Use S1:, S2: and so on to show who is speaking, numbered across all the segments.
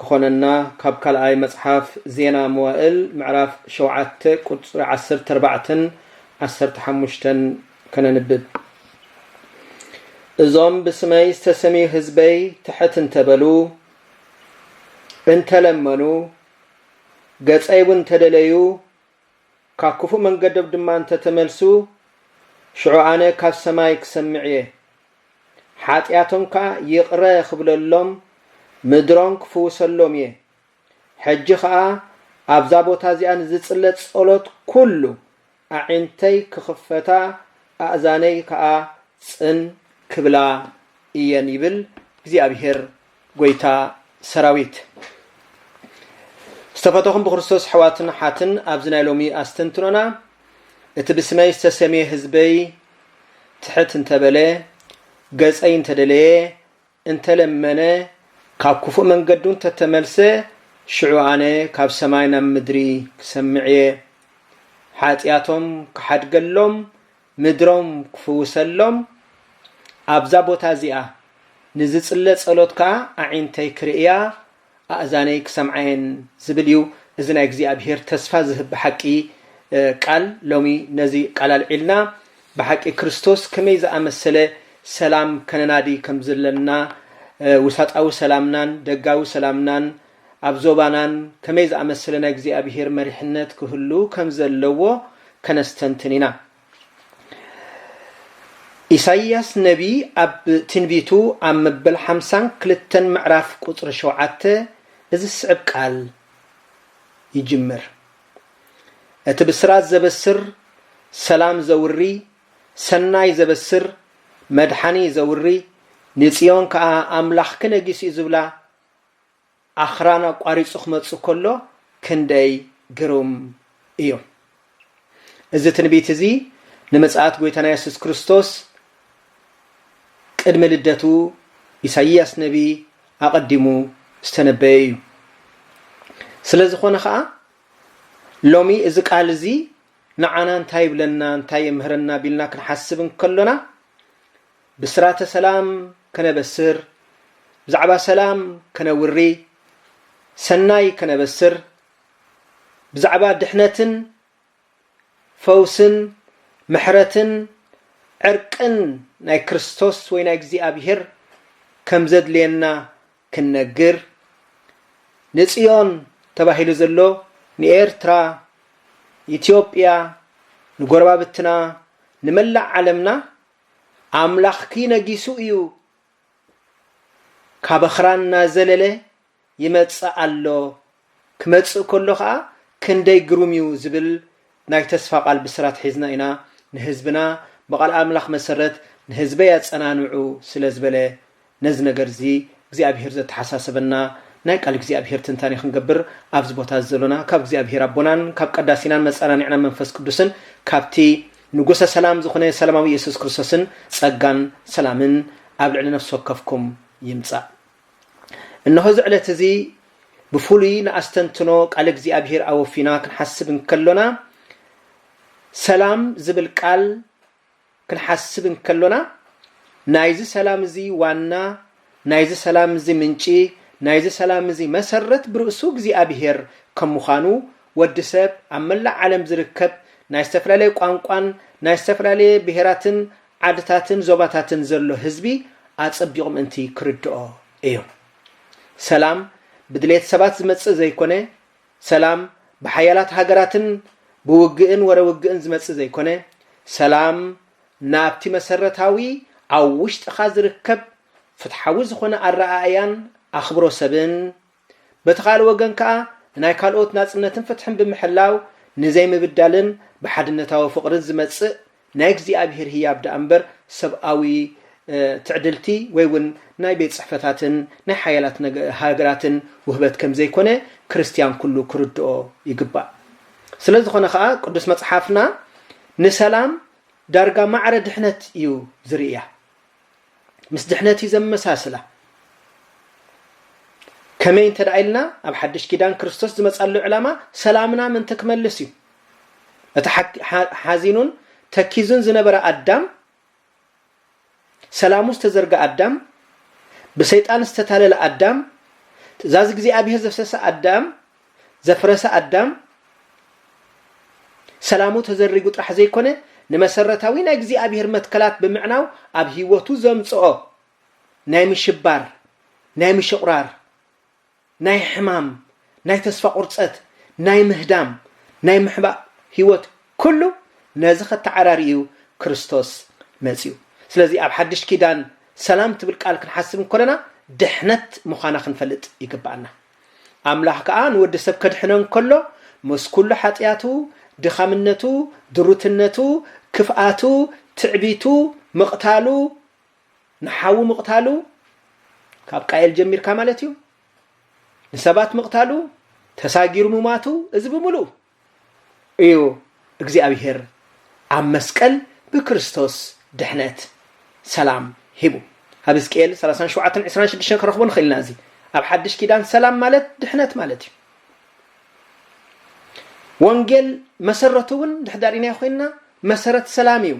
S1: ክኾነና ካብ ካልኣይ መጽሓፍ ዜና መዋእል ምዕራፍ ሸውዓተ ቁጽሪ ዓሰርተ ኣርባዕተን ዓሰርተ ሓሙሽተን ከነንብብ እዞም ብስመይ ዝተሰምዩ ህዝበይ ትሕት እንተበሉ እንተለመኑ ገጸይ እውን እንተደለዩ ካብ ክፉእ መንገዶም ድማ እንተ ተመልሱ፣ ሽዑ ኣነ ካብ ሰማይ ክሰምዕ እየ፣ ሓጢኣቶም ከኣ ይቕረ ኽብለሎም፣ ምድሮም ክፍውሰሎም እየ። ሕጂ ኸኣ ኣብዛ ቦታ እዚኣ ንዝጽለ ጸሎት ኵሉ ኣዒንተይ ክኽፈታ፣ ኣእዛነይ ከኣ ጽን ክብላ እየን ይብል እግዚኣብሄር ጎይታ ሰራዊት ዝተፈተኹም ብክርስቶስ ኣሕዋትን ሓትን ኣብዚ ናይ ሎሚ ኣስተንትኖና እቲ ብስመይ ዝተሰምየ ህዝበይ ትሕት እንተበለ ገፀይ እንተደለየ እንተለመነ ካብ ክፉእ መንገዱ እንተተመልሰ ሽዑ ኣነ ካብ ሰማይ ናብ ምድሪ ክሰምዕ እየ ሓጢኣቶም ክሓድገሎም ምድሮም ክፍውሰሎም ኣብዛ ቦታ እዚኣ ንዝጽለ ጸሎት ከኣ ኣዒንተይ ክርእያ ኣእዛነይ ክሰምዓየን ዝብል እዩ እዚ ናይ እግዚኣብሄር ተስፋ ዝህብ ብሓቂ ቃል ሎሚ ነዚ ቃል ኣልዒልና ብሓቂ ክርስቶስ ከመይ ዝኣመሰለ ሰላም ከነናዲ ከምዘለና ውሳጣዊ ሰላምናን ደጋዊ ሰላምናን ኣብ ዞባናን ከመይ ዝኣመሰለ ናይ እግዚኣብሄር መሪሕነት ክህሉ ከም ዘለዎ ከነስተንትን ኢና። ኢሳይያስ ነቢይ ኣብ ትንቢቱ ኣብ መበል ሓምሳን ክልተን ምዕራፍ ቁጽሪ ሸውዓተ እዚ ዝስዕብ ቃል ይጅምር፣ እቲ ብስራት ዘበስር፣ ሰላም ዘውሪ፣ ሰናይ ዘበስር፣ መድሓኒ ዘውሪ፣ ንጽዮን ከኣ ኣምላኽኪ ነጊሱ እዩ ዝብላ፣ ኣኽራን ኣቋሪጹ ክመጽእ ከሎ ክንደይ ግሩም እዩ! እዚ ትንቢት እዚ ንምጽኣት ጐይታና የሱስ ክርስቶስ ቅድሚ ልደቱ ኢሳይያስ ነብዪ ኣቐዲሙ ዝተነበየ እዩ። ስለ ዝኾነ ኸኣ ሎሚ እዚ ቃል እዚ ንዓና እንታይ ይብለና እንታይ የምህረና ቢልና ክንሓስብ እንከሎና ብስራተ ሰላም ከነበስር፣ ብዛዕባ ሰላም ከነውሪ፣ ሰናይ ከነበስር፣ ብዛዕባ ድሕነትን ፈውስን ምሕረትን ዕርቅን ናይ ክርስቶስ ወይ ናይ እግዚኣብሔር ከም ዘድልየና ክንነግር፣ ንጽዮን ተባሂሉ ዘሎ ንኤርትራ፣ ኢትዮጵያ፣ ንጎረባብትና፣ ንመላእ ዓለምና ኣምላኽኪ ነጊሱ እዩ ካበኽራ እናዘለለ ይመጽእ ኣሎ ክመጽእ ከሎ ከኣ ክንደይ ግሩም እዩ ዝብል ናይ ተስፋ ቃል ብስራት ሒዝና ኢና ንህዝብና ብቃል ኣምላኽ መሰረት ንህዝበይ ኣጸናንዑ ስለዝበለ ነዚ ነገር እዚ እግዚኣብሄር ዘተሓሳሰበና ናይ ቃል እግዚኣብሄር ትንታኔ ክንገብር ኣብዚ ቦታ እዚ ዘሎና ካብ እግዚኣብሄር ኣቦናን ካብ ቀዳሲናን መጻናኒዕናን መንፈስ ቅዱስን ካብቲ ንጉሰ ሰላም ዝኹነ ሰላማዊ የሱስ ክርስቶስን ጸጋን ሰላምን ኣብ ልዕሊ ነፍሲ ወከፍኩም ይምጻእ እንሆ እዚ ዕለት እዚ ብፍሉይ ንኣስተንትኖ ቃል እግዚኣብሄር ኣወፊና ክንሓስብ እንከሎና ሰላም ዝብል ቃል ክንሓስብ እንከሎና ናይዚ ሰላም እዚ ዋና፣ ናይዚ ሰላም እዚ ምንጪ፣ ናይዚ ሰላም እዚ መሰረት ብርእሱ እግዚኣብሄር ከም ምዃኑ ወዲ ሰብ ኣብ መላእ ዓለም ዝርከብ ናይ ዝተፈላለየ ቋንቋን ናይ ዝተፈላለየ ብሄራትን ዓድታትን ዞባታትን ዘሎ ህዝቢ ኣጸቢቑ ምእንቲ ክርድኦ እዩ። ሰላም ብድሌት ሰባት ዝመጽእ ዘይኮነ ሰላም ብሓያላት ሃገራትን ብውግእን ወረ ውግእን ዝመጽእ ዘይኮነ፣ ሰላም ናብቲ መሰረታዊ ኣብ ውሽጥኻ ዝርከብ ፍትሓዊ ዝኾነ ኣረኣእያን ኣኽብሮ ሰብን፣ በቲ ካልእ ወገን ከኣ ንናይ ካልኦት ናጽነትን ፍትሕን ብምሕላው ንዘይምብዳልን ብሓድነታዊ ፍቕርን ዝመጽእ ናይ እግዚኣብሄር ህያብ ደኣ እምበር ሰብኣዊ ትዕድልቲ ወይ እውን ናይ ቤት ጽሕፈታትን ናይ ሓያላት ሃገራትን ውህበት ከም ዘይኰነ ክርስትያን ኵሉ ክርድኦ ይግባእ። ስለ ዝዀነ ኸኣ ቅዱስ መጽሓፍና ንሰላም ዳርጋ ማዕረ ድሕነት እዩ ዝርእያ። ምስ ድሕነት እዩ ዘመሳስላ። ከመይ እንተ ኢልና ኣብ ሓድሽ ኪዳን ክርስቶስ ዝመጻሉ ዕላማ ሰላምና ምእንቲ ክመልስ እዩ። እቲ ሓዚኑን ተኪዙን ዝነበረ ኣዳም ሰላሙ ዝተዘርገ ኣዳም ብሰይጣን ዝተታለለ ኣዳም ትእዛዝ እግዚኣብሔር ዘፍሰሰ ኣዳም ዘፍረሰ ኣዳም ሰላሙ ተዘሪጉ ጥራሕ ዘይኮነ ንመሰረታዊ ናይ እግዚኣብሔር መትከላት ብምዕናው ኣብ ህይወቱ ዘምጽኦ ናይ ምሽባር፣ ናይ ምሽቑራር፣ ናይ ሕማም፣ ናይ ተስፋ ቁርጸት፣ ናይ ምህዳም፣ ናይ ምሕባእ ህይወት ኩሉ ነዚ ከተዓራሪ እዩ ክርስቶስ መጺኡ። ስለዚ ኣብ ሓድሽ ኪዳን ሰላም ትብል ቃል ክንሓስብ እንኮለና ድሕነት ምዃና ክንፈልጥ ይግብኣና። ኣምላኽ ከኣ ንወዲ ሰብ ከድሕኖ እንከሎ ምስ ኩሉ ሓጥያቱ፣ ድኻምነቱ፣ ድሩትነቱ፣ ክፍኣቱ፣ ትዕቢቱ፣ ምቕታሉ፣ ንሓዉ ምቕታሉ፣ ካብ ቃየል ጀሚርካ ማለት እዩ፣ ንሰባት ምቕታሉ፣ ተሳጊሩ ምሟቱ፣ እዚ ብምሉኡ እዩ እግዚኣብሄር ኣብ መስቀል ብክርስቶስ ድሕነት ሰላም ሂቡ ኣብ ህዝቅኤል ሰላሳን ሸውዓተን ዕስራን ሽዱሽተን ክረኽቦ ንኽእል ኢና እዚ ኣብ ሓድሽ ኪዳን ሰላም ማለት ድሕነት ማለት እዩ ወንጌል መሰረቱ እውን ድሕዳሪናዮ ኮይንና መሰረት ሰላም እዩ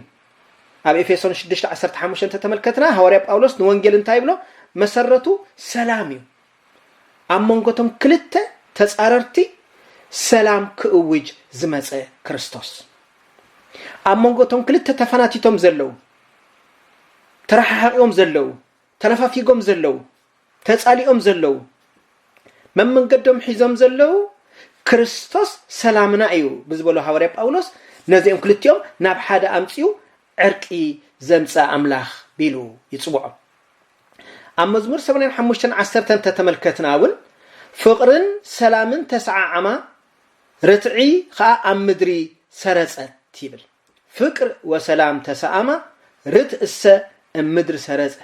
S1: ኣብ ኤፌሶን 6 15 ተተመልከትና ሃዋርያ ጳውሎስ ንወንጌል እንታይ ይብሎ መሰረቱ ሰላም እዩ ኣብ መንጎ እቶም ክልተ ተጻረርቲ ሰላም ክእውጅ ዝመጸ ክርስቶስ፣ ኣብ መንጎ እቶም ክልተ ተፈናቲቶም ዘለዉ፣ ተረሓሓቂዎም ዘለዉ፣ ተነፋፊጎም ዘለዉ፣ ተጻሊኦም ዘለዉ፣ መመንገዶም ሒዞም ዘለዉ፣ ክርስቶስ ሰላምና እዩ ብዝበሎ ሃዋርያ ጳውሎስ ነዚኦም ክልቲኦም ናብ ሓደ ኣምጺኡ ዕርቂ ዘምጽእ ኣምላኽ ቢሉ ይጽውዖም። ኣብ መዝሙር ሰማንያን ሓሙሽተን ዓሰርተን እንተተመልከትና እውን ፍቕርን ሰላምን ተሰዓዓማ፣ ርትዒ ኸኣ ኣብ ምድሪ ሰረጸት ይብል። ፍቅር ወሰላም ተሰኣማ ርትእሰ እም ምድር ሰረጸ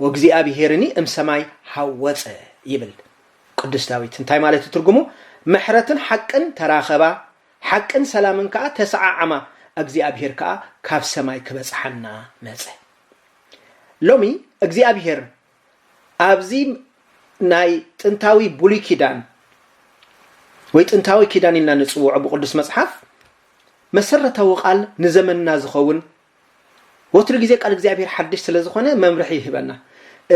S1: ወእግዚኣብሄርኒ እም ሰማይ ሃወጸ ይብል ቅዱስ ዳዊት። እንታይ ማለት እዩ ትርጉሙ? ምሕረትን ሓቅን ተራኸባ፣ ሓቅን ሰላምን ከኣ ተሰዓዓማ፣ እግዚኣብሄር ከኣ ካብ ሰማይ ክበጽሓና መጸ። ሎሚ እግዚኣብሄር ኣብዚ ናይ ጥንታዊ ብሉይ ኪዳን ወይ ጥንታዊ ኪዳን ኢልና ንጽውዖ ብቅዱስ መጽሓፍ መሰረታዊ ቃል ንዘመንና ዝኸውን ወትሩ ግዜ ቃል እግዚኣብሄር ሓድሽ ስለ ዝኾነ መምርሒ ይህበና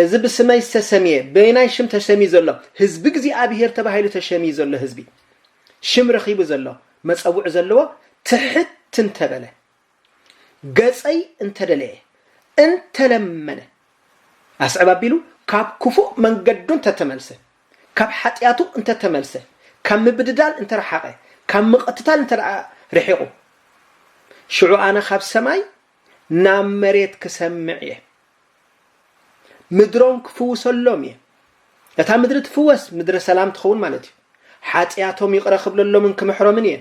S1: እዚ ብስመይ ዝተሰምየ በየናይ ሽም ተሰምዩ ዘሎ ህዝቢ እግዚኣብሄር ተባሂሉ ተሸምዩ ዘሎ ህዝቢ ሽም ረኺቡ ዘሎ መፀውዒ ዘለዎ ትሕት እንተበለ ገጸይ እንተ ደለየ፣ እንተ ለመነ፣ ኣስዕብ ኣቢሉ ካብ ክፉእ መንገዱ እንተ ተመልሰ፣ ካብ ሓጢኣቱ እንተ ተመልሰ፣ ካብ ምብድዳል እንተ ረሓቐ፣ ካብ ምቕትታል እንተ ደኣ ርሒቑ፣ ሽዑ ኣነ ኻብ ሰማይ ናብ መሬት ክሰምዕ እየ። ምድሮም ክፍውሰሎም እየ እታ ምድሪ ትፍወስ ምድረ ሰላም ትኸውን ማለት እዩ ሓጢኣቶም ይቕረ ክብለሎምን ክምሕሮምን እየ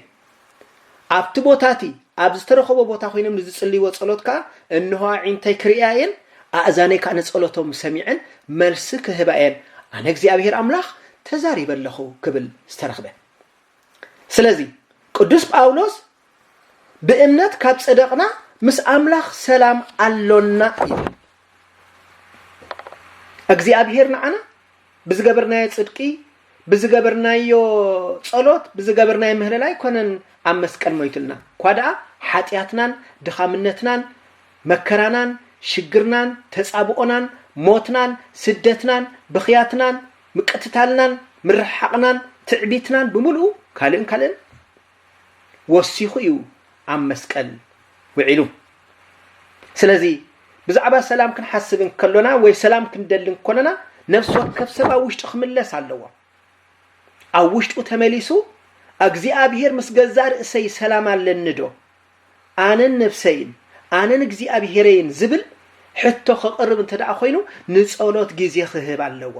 S1: ኣብቲ ቦታ እቲ ኣብ ዝተረኸቦ ቦታ ኮይኖም ንዝጽልይዎ ጸሎት ከዓ እንሆ ኣዒንተይ ክርእያ እየን ኣእዛነይ ከዓ ንጸሎቶም ሰሚዐን መልሲ ክህባ እየን ኣነ እግዚኣብሄር ኣምላኽ ተዛሪበ ኣለኹ ክብል ዝተረኽበ ስለዚ ቅዱስ ጳውሎስ ብእምነት ካብ ጸደቕና ምስ ኣምላኽ ሰላም ኣሎና እዩ። እግዚኣብሄር ንዓና ብዝገበርናዮ ጽድቂ፣ ብዝገበርናዮ ጸሎት፣ ብዝገበርናዮ ምህለላ ኣይኮነን ኣብ መስቀል ሞይትልና። እኳ ደኣ ሓጢኣትናን ድኻምነትናን መከራናን ሽግርናን ተጻብኦናን ሞትናን ስደትናን ብኽያትናን ምቅትታልናን ምርሕሓቕናን ትዕቢትናን ብምሉኡ ካልእን ካልእን ወሲኹ እዩ ኣብ መስቀል ውዒሉ። ስለዚ ብዛዕባ ሰላም ክንሓስብ እንከሎና ወይ ሰላም ክንደሊ እንከሎና ነፍሲ ወከፍ ሰብ ኣብ ውሽጡ ክምለስ ኣለዎ። ኣብ ውሽጡ ተመሊሱ እግዚኣብሔር ምስ ገዛእ ርእሰይ ሰላም ኣለኒ ዶ ኣነን ነፍሰይን ኣነን እግዚኣብሔረይን ዝብል ሕቶ ከቕርብ እንተ ደኣ ኮይኑ ንጸሎት ግዜ ክህብ ኣለዎ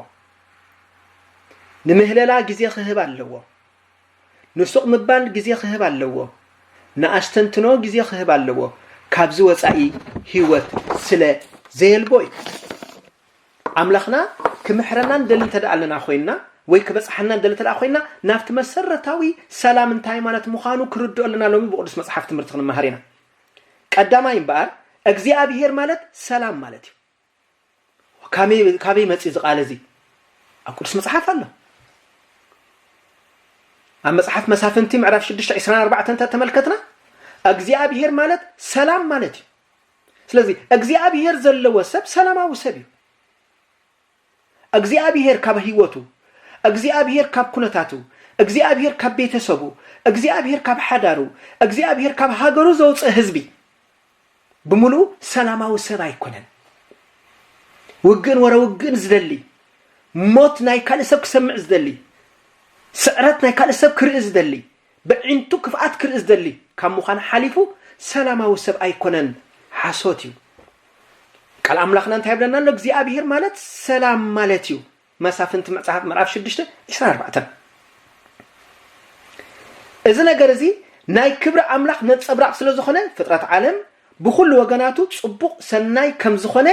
S1: ንምህለላ ግዜ ክህብ ኣለዎ ንሱቕ ምባል ግዜ ክህብ ኣለዎ። ንኣስተንትኖ ግዜ ክህብ ኣለዎ። ካብዚ ወጻኢ ህይወት ስለ ዘየልቦ እዩ። ኣምላኽና ክምሕረና ንደሊ እንተ ኣለና ኮይንና ወይ ክበጽሓና ንደሊ እንተ ኮይንና ናብቲ መሰረታዊ ሰላም እንታይ ማለት ምዃኑ ክርድኦ ኣለና ሎሚ ብቅዱስ መጽሓፍ ትምህርቲ ክንመሃር ኢና። ቀዳማይ እምበኣር እግዚኣብሄር ማለት ሰላም ማለት እዩ። ካበይ ካበይ መጽዩ እዚ ቃል እዚ ኣብ ቅዱስ መጽሓፍ ኣሎ ኣብ መጽሓፍ መሳፍንቲ ምዕራፍ 6 24 እንተ ተመልከትና እግዚኣብሄር ማለት ሰላም ማለት እዩ ስለዚ እግዚኣብሄር ዘለዎ ሰብ ሰላማዊ ሰብ እዩ እግዚኣብሄር ካብ ህይወቱ እግዚኣብሄር ካብ ኩነታቱ እግዚኣብሄር ካብ ቤተሰቡ እግዚኣብሄር ካብ ሓዳሩ እግዚኣብሄር ካብ ሃገሩ ዘውፅእ ህዝቢ ብምሉኡ ሰላማዊ ሰብ ኣይኮነን። ውግእን ወረ ውግእን ዝደሊ፣ ሞት ናይ ካልእ ሰብ ክሰምዕ ዝደሊ፣ ስዕረት ናይ ካልእ ሰብ ክርኢ ዝደሊ፣ በዒንቱ ክፍኣት ክርኢ ዝደሊ ካብ ምዃን ሓሊፉ ሰላማዊ ሰብ ኣይኮነን። ሓሶት እዩ። ቃል ኣምላኽና እንታይ ይብለና ኣሎ? እግዚኣብሄር ማለት ሰላም ማለት እዩ። መሳፍንቲ መጽሐፍ ምዕራፍ ሽዱሽተ ዕስራን ኣርባዕተን እዚ ነገር እዚ ናይ ክብሪ ኣምላኽ ነጸብራቕ ስለ ዝኾነ ፍጥረት ዓለም ብኹሉ ወገናቱ ጽቡቕ ሰናይ ከም ዝኾነ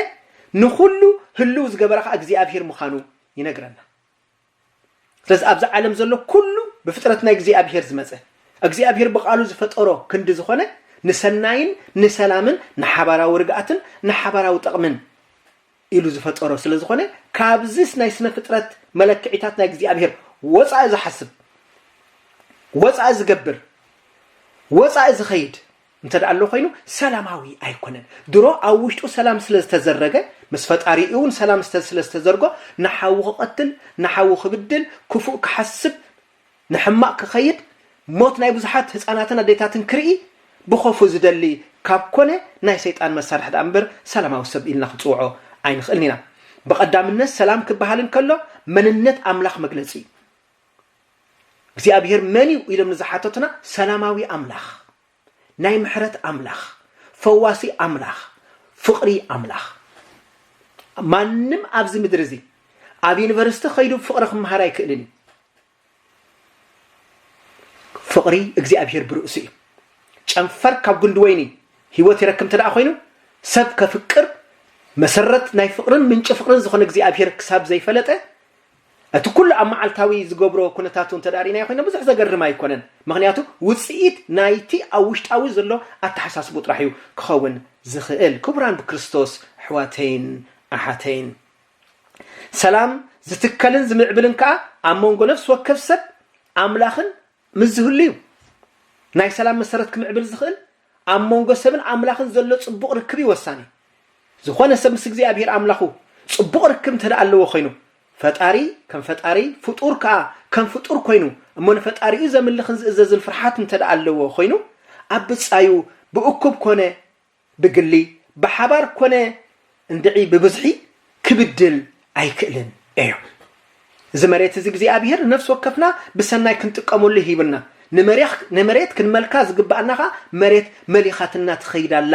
S1: ንኹሉ ህልው ዝገበረ ከኣ እግዚኣብሔር ምዃኑ ይነግረና ስለዚ ኣብዚ ዓለም ዘሎ ኩሉ ብፍጥረት ናይ እግዚኣብሔር ዝመጸ እግዚኣብሔር ብቃሉ ዝፈጠሮ ክንዲ ዝኾነ ንሰናይን ንሰላምን ንሓባራዊ ርግኣትን ንሓባራዊ ጥቕምን ኢሉ ዝፈጠሮ ስለ ዝኾነ ካብዚስ ናይ ስነ ፍጥረት መለክዒታት ናይ እግዚኣብሄር ወጻኢ ዝሓስብ ወጻኢ ዝገብር ወጻኢ ዝኸይድ እንተ ደኣ ኣሎ ኮይኑ ሰላማዊ ኣይኮነን ድሮ ኣብ ውሽጡ ሰላም ስለ ዝተዘረገ ምስ ፈጣሪ እውን ሰላም ስለ ዝተዘርጎ ንሓዉ ክቐትል ንሓዉ ክብድል ክፉእ ክሓስብ ንሕማቕ ክኸይድ ሞት ናይ ብዙሓት ህጻናትን ኣዴታትን ክርኢ ብኾፉ ዝደሊ ካብ ኮነ ናይ ሰይጣን መሳርሒ ድኣ እምበር ሰላማዊ ሰብ ኢልና ክንጽውዖ ኣይንኽእልን ኢና። ብቐዳምነት ሰላም ክበሃል እንከሎ መንነት ኣምላኽ መግለጺ እዩ። እግዚኣብሄር መን እዩ ኢሎም ንዝሓተቱና ሰላማዊ ኣምላኽ ናይ ምሕረት ኣምላኽ ፈዋሲ ኣምላኽ ፍቕሪ ኣምላኽ ማንም ኣብዚ ምድሪ እዚ ኣብ ዩኒቨርሲቲ ከይዱ ፍቕሪ ክምሃር ኣይክእልን እዩ ፍቕሪ እግዚኣብሄር ብርእሱ እዩ ጨንፈር ካብ ጉንዲ ወይኒ ህይወት ይረክብ እንተ ኮይኑ ሰብ ከፍቅር መሰረት ናይ ፍቕርን ምንጪ ፍቕርን ዝኾነ እግዚኣብሄር ክሳብ ዘይፈለጠ እቲ ኩሉ ኣብ መዓልታዊ ዝገብሮ ኩነታቱ እንተድኣ ርኢናዮ ኮይና ብዙሕ ዘገርም ኣይኮነን፣ ምኽንያቱ ውጽኢት ናይቲ ኣብ ውሽጣዊ ዘሎ ኣተሓሳስብኡ ጥራሕ እዩ ክኸውን ዝኽእል። ክቡራን ብክርስቶስ ኣሕዋተይን ኣሓተይን፣ ሰላም ዝትከልን ዝምዕብልን ከኣ ኣብ መንጎ ነፍሲ ወከፍ ሰብ ኣምላኽን ምስ ዝህሉ እዩ። ናይ ሰላም መሰረት ክምዕብል ዝኽእል ኣብ መንጎ ሰብን ኣምላኽን ዘሎ ጽቡቕ ርክብ እዩ ወሳኒ። ዝኾነ ሰብ ምስ እግዚኣብሄር ኣምላኹ ጽቡቕ ርክብ እንተ ደኣ ኣለዎ ዀይኑ፣ ፈጣሪ ከም ፈጣሪ፣ ፍጡር ከኣ ከም ፍጡር ኰይኑ እሞ ንፈጣሪኡ ዘምልኽን ዝእዘዝን ፍርሓት እንተ ደኣ ኣለዎ ዀይኑ፣ ኣብ ብጻዩ ብእኩብ ኰነ ብግሊ፣ ብሓባር ኰነ እንድዒ ብብዝሒ ክብድል ኣይክእልን እዮ። እዚ መሬት እዚ እግዚኣብሄር ንነፍሲ ወከፍና ብሰናይ ክንጥቀመሉ ሂብና። ንመሬት ክንመልካ ዝግብኣና ከኣ መሬት መሊኻትና ትኸይድ ኣላ።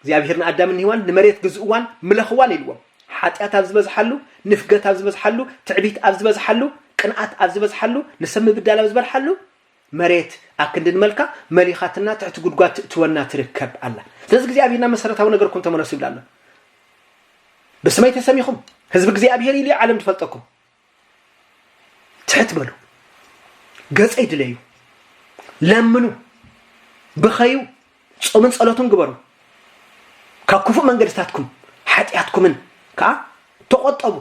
S1: እግዚኣብሄር ንኣዳምን ንሄዋን ንመሬት ግዝእዋን ምለኽዋን ኢልዎም። ሓጢኣት ኣብ ዝበዝሓሉ፣ ንፍገት ኣብ ዝበዝሓሉ፣ ትዕቢት ኣብ ዝበዝሓሉ፣ ቅንኣት ኣብ ዝበዝሓሉ፣ ንሰብ ምብዳል ኣብ ዝበርሓሉ፣ መሬት ኣክንዲ ንመልካ መሊኻትና ትሕቲ ጉድጓድ ትእትወና ትርከብ ኣላ ስለዚ እግዚኣብሔር ናብ መሰረታዊ ነገርኩም ተመለሱ ይብላ ኣሎ ብስመይ ተሰሚኹም ህዝቢ እግዚኣብሔር ኢሉ ዓለም ትፈልጠኩም ትሕት በሉ ገጸይ ድለዩ ለምኑ ብኸዩ ጾምን ጸሎትን ግበሩ ካብ ክፉእ መንገድታትኩም ሓጢኣትኩምን ከዓ ተቆጠቡ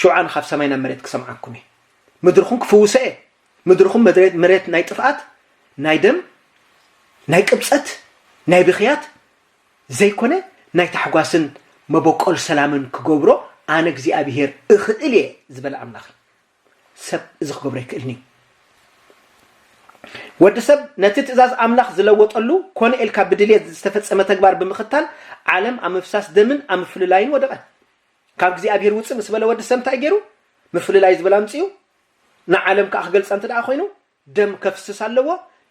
S1: ሽውዓን ካብ ሰማይ ናብ መሬት ክሰምዓኩም እየ ምድርኹም ክፍውሰ እየ ምድርኹም መድሬት መሬት ናይ ጥፍኣት ናይ ደም ናይ ቅብጸት ናይ ብኽያት ዘይኮነ ናይ ታሕጓስን መበቆል ሰላምን ክገብሮ ኣነ እግዚኣብሄር እኽእል እየ ዝበለ ኣምላኽ እዩ። ሰብ እዚ ክገብሮ ኣይክእልን እዩ። ወዲ ሰብ ነቲ ትእዛዝ ኣምላኽ ዝለወጠሉ ኮነ ኢልካ ብድልየት ዝተፈጸመ ተግባር ብምኽታል ዓለም ኣብ ምፍሳስ ደምን ኣብ ምፍልላይን ወደቐ። ካብ እግዚኣብሄር ውጽእ ምስ በለ ወዲ ሰብ እንታይ ገይሩ? ምፍልላይ ዝብል ኣምጺኡ ንዓለም ከኣ ክገልጻ እንተ ደኣ ኮይኑ ደም ከፍስስ ኣለዎ።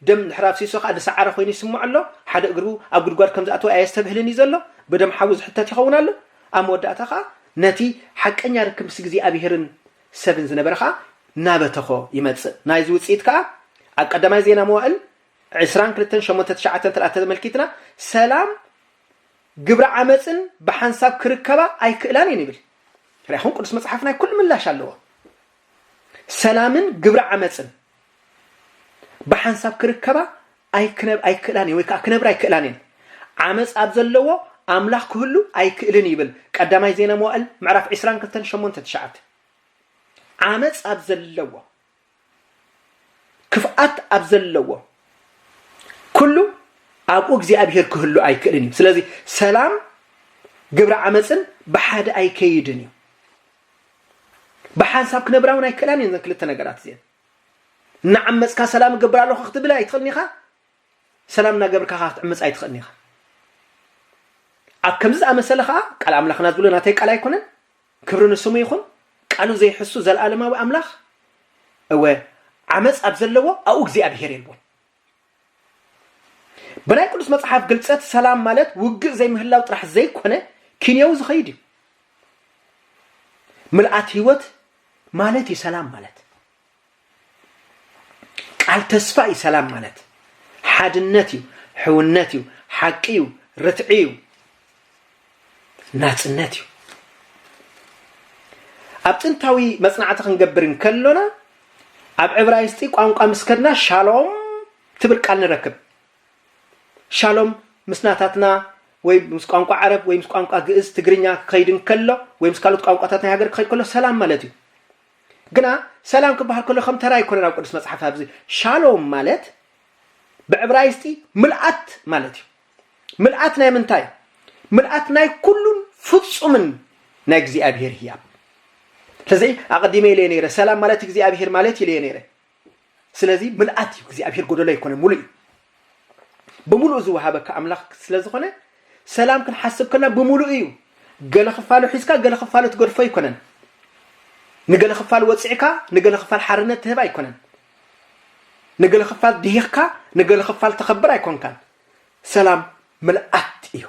S1: ደም ድሕሪ ኣፍሲሱ ከኣ ዝሰዓረ ኮይኑ ይስምዖ ኣሎ። ሓደ እግሩ ኣብ ጉድጓድ ከም ዝኣተወ ኣየስተብህልን እዩ ዘሎ። ብደም ሓዉ ዝሕተት ይኸውን ኣሎ። ኣብ መወዳእታ ከኣ ነቲ ሓቀኛ ርክብ ምስ እግዚኣብሄርን ሰብን ዝነበረ ከኣ እናበተኾ ይመጽእ። ናይዚ ውጽኢት ከኣ ኣብ ቀዳማይ ዜና መዋእል ዕስራን ክልተን ሸሞንተ ትሽዓተ እንተ ደኣ ተመልኪትና ሰላም ግብረ ዓመጽን ብሓንሳብ ክርከባ ኣይክእላን እየን ይብል። ርኣኹም ቅዱስ መጽሓፍ ናይ ኩሉ ምላሽ ኣለዎ። ሰላምን ግብረ ዓመጽን ብሓንሳብ ክርከባ ኣይክነብ ኣይክእላን ወይ ከዓ ክነብራ ኣይክእላን እየን። ዓመጽ ኣብ ዘለዎ ኣምላኽ ክህሉ ኣይክእልን ይብል ቀዳማይ ዜና መዋእል ምዕራፍ 22 8 9 ዓመጽ ኣብ ዘለዎ ክፍኣት ኣብ ዘለዎ ኩሉ ኣብኡ እግዚኣብሄር ክህሉ ኣይክእልን እዩ ስለዚ ሰላም ግብሪ ዓመፅን ብሓደ ኣይከይድን እዩ ብሓንሳብ ክነብራ እውን ኣይክእላን እየን ዘን ክልተ ነገራት እዚአን እናዓመፅካ ሰላም እገብር ኣለኹ ክትብል ኣይትኽእልን ኢኻ ሰላም እናገብርካ ከዓ ክትዕምፅ ኣይትኽእልን ኢኻ ኣብ ከምዚ ዝኣመሰለ ከዓ ቃል ኣምላኽና ዝብሎ ናተይ ቃል ኣይኮነን ክብሪ ንስሙ ይኹን ቃሉ ዘይሕሱ ዘልኣለማዊ ኣምላኽ እወ ዓመጽ ኣብ ዘለዎ ኣብኡ እግዚኣብሄር የልቦን ብናይ ቅዱስ መጽሓፍ ግልጸት ሰላም ማለት ውግእ ዘይምህላው ጥራሕ ዘይኮነ ኪንዮዊ ዝኸይድ እዩ ምልኣት ህይወት ማለት እዩ ሰላም ማለት ቃል ተስፋ እዩ ሰላም ማለት ሓድነት እዩ ሕውነት እዩ ሓቂ እዩ ርትዒ እዩ ናፅነት እዩ ኣብ ጥንታዊ መፅናዕቲ ክንገብር እንከሎና ኣብ ዕብራይስጢ ቋንቋ ምስ ከድና ሻሎም ትብል ቃል ንረክብ ሻሎም ምስ ናታትና ወይ ምስ ቋንቋ ዓረብ ወይ ምስ ቋንቋ ግእዝ ትግርኛ ክኸይድ እንከሎ ወይ ምስ ካልኦት ቋንቋታት ናይ ሃገር ክኸይድ ከሎ ሰላም ማለት እዩ ግና ሰላም ክበሃል ከሎ ከም ተራ ኣይኮነን ኣብ ቅዱስ መጽሓፍ ኣብዚ ሻሎም ማለት ብዕብራይስጢ ምልኣት ማለት እዩ ምልኣት ናይ ምንታይ ምልኣት ናይ ኩሉን ፍጹምን ናይ እግዚኣብሄር ህያብ ስለዚ ኣቐዲመ ኢለየ ነይረ ሰላም ማለት እግዚኣብሄር ማለት ኢለየ ነይረ ስለዚ ምልኣት እዩ እግዚኣብሔር ጎደሎ ኣይኮነ ሙሉእ እዩ ብምሉእ ዝወሃበካ ኣምላኽ ስለ ዝኾነ ሰላም ክንሓስብ ከና ብምሉእ እዩ ገለ ክፋሉ ሒዝካ ገለ ክፋሉ ትገድፎ ኣይኮነን ንገለ ክፋል ወፂዕካ ንገለ ክፋል ሓርነት ትህብ ኣይኮነን ንገለ ክፋል ድሂኽካ ንገለ ክፋል ተኸብር ኣይኮንካን ሰላም ምልኣት እዩ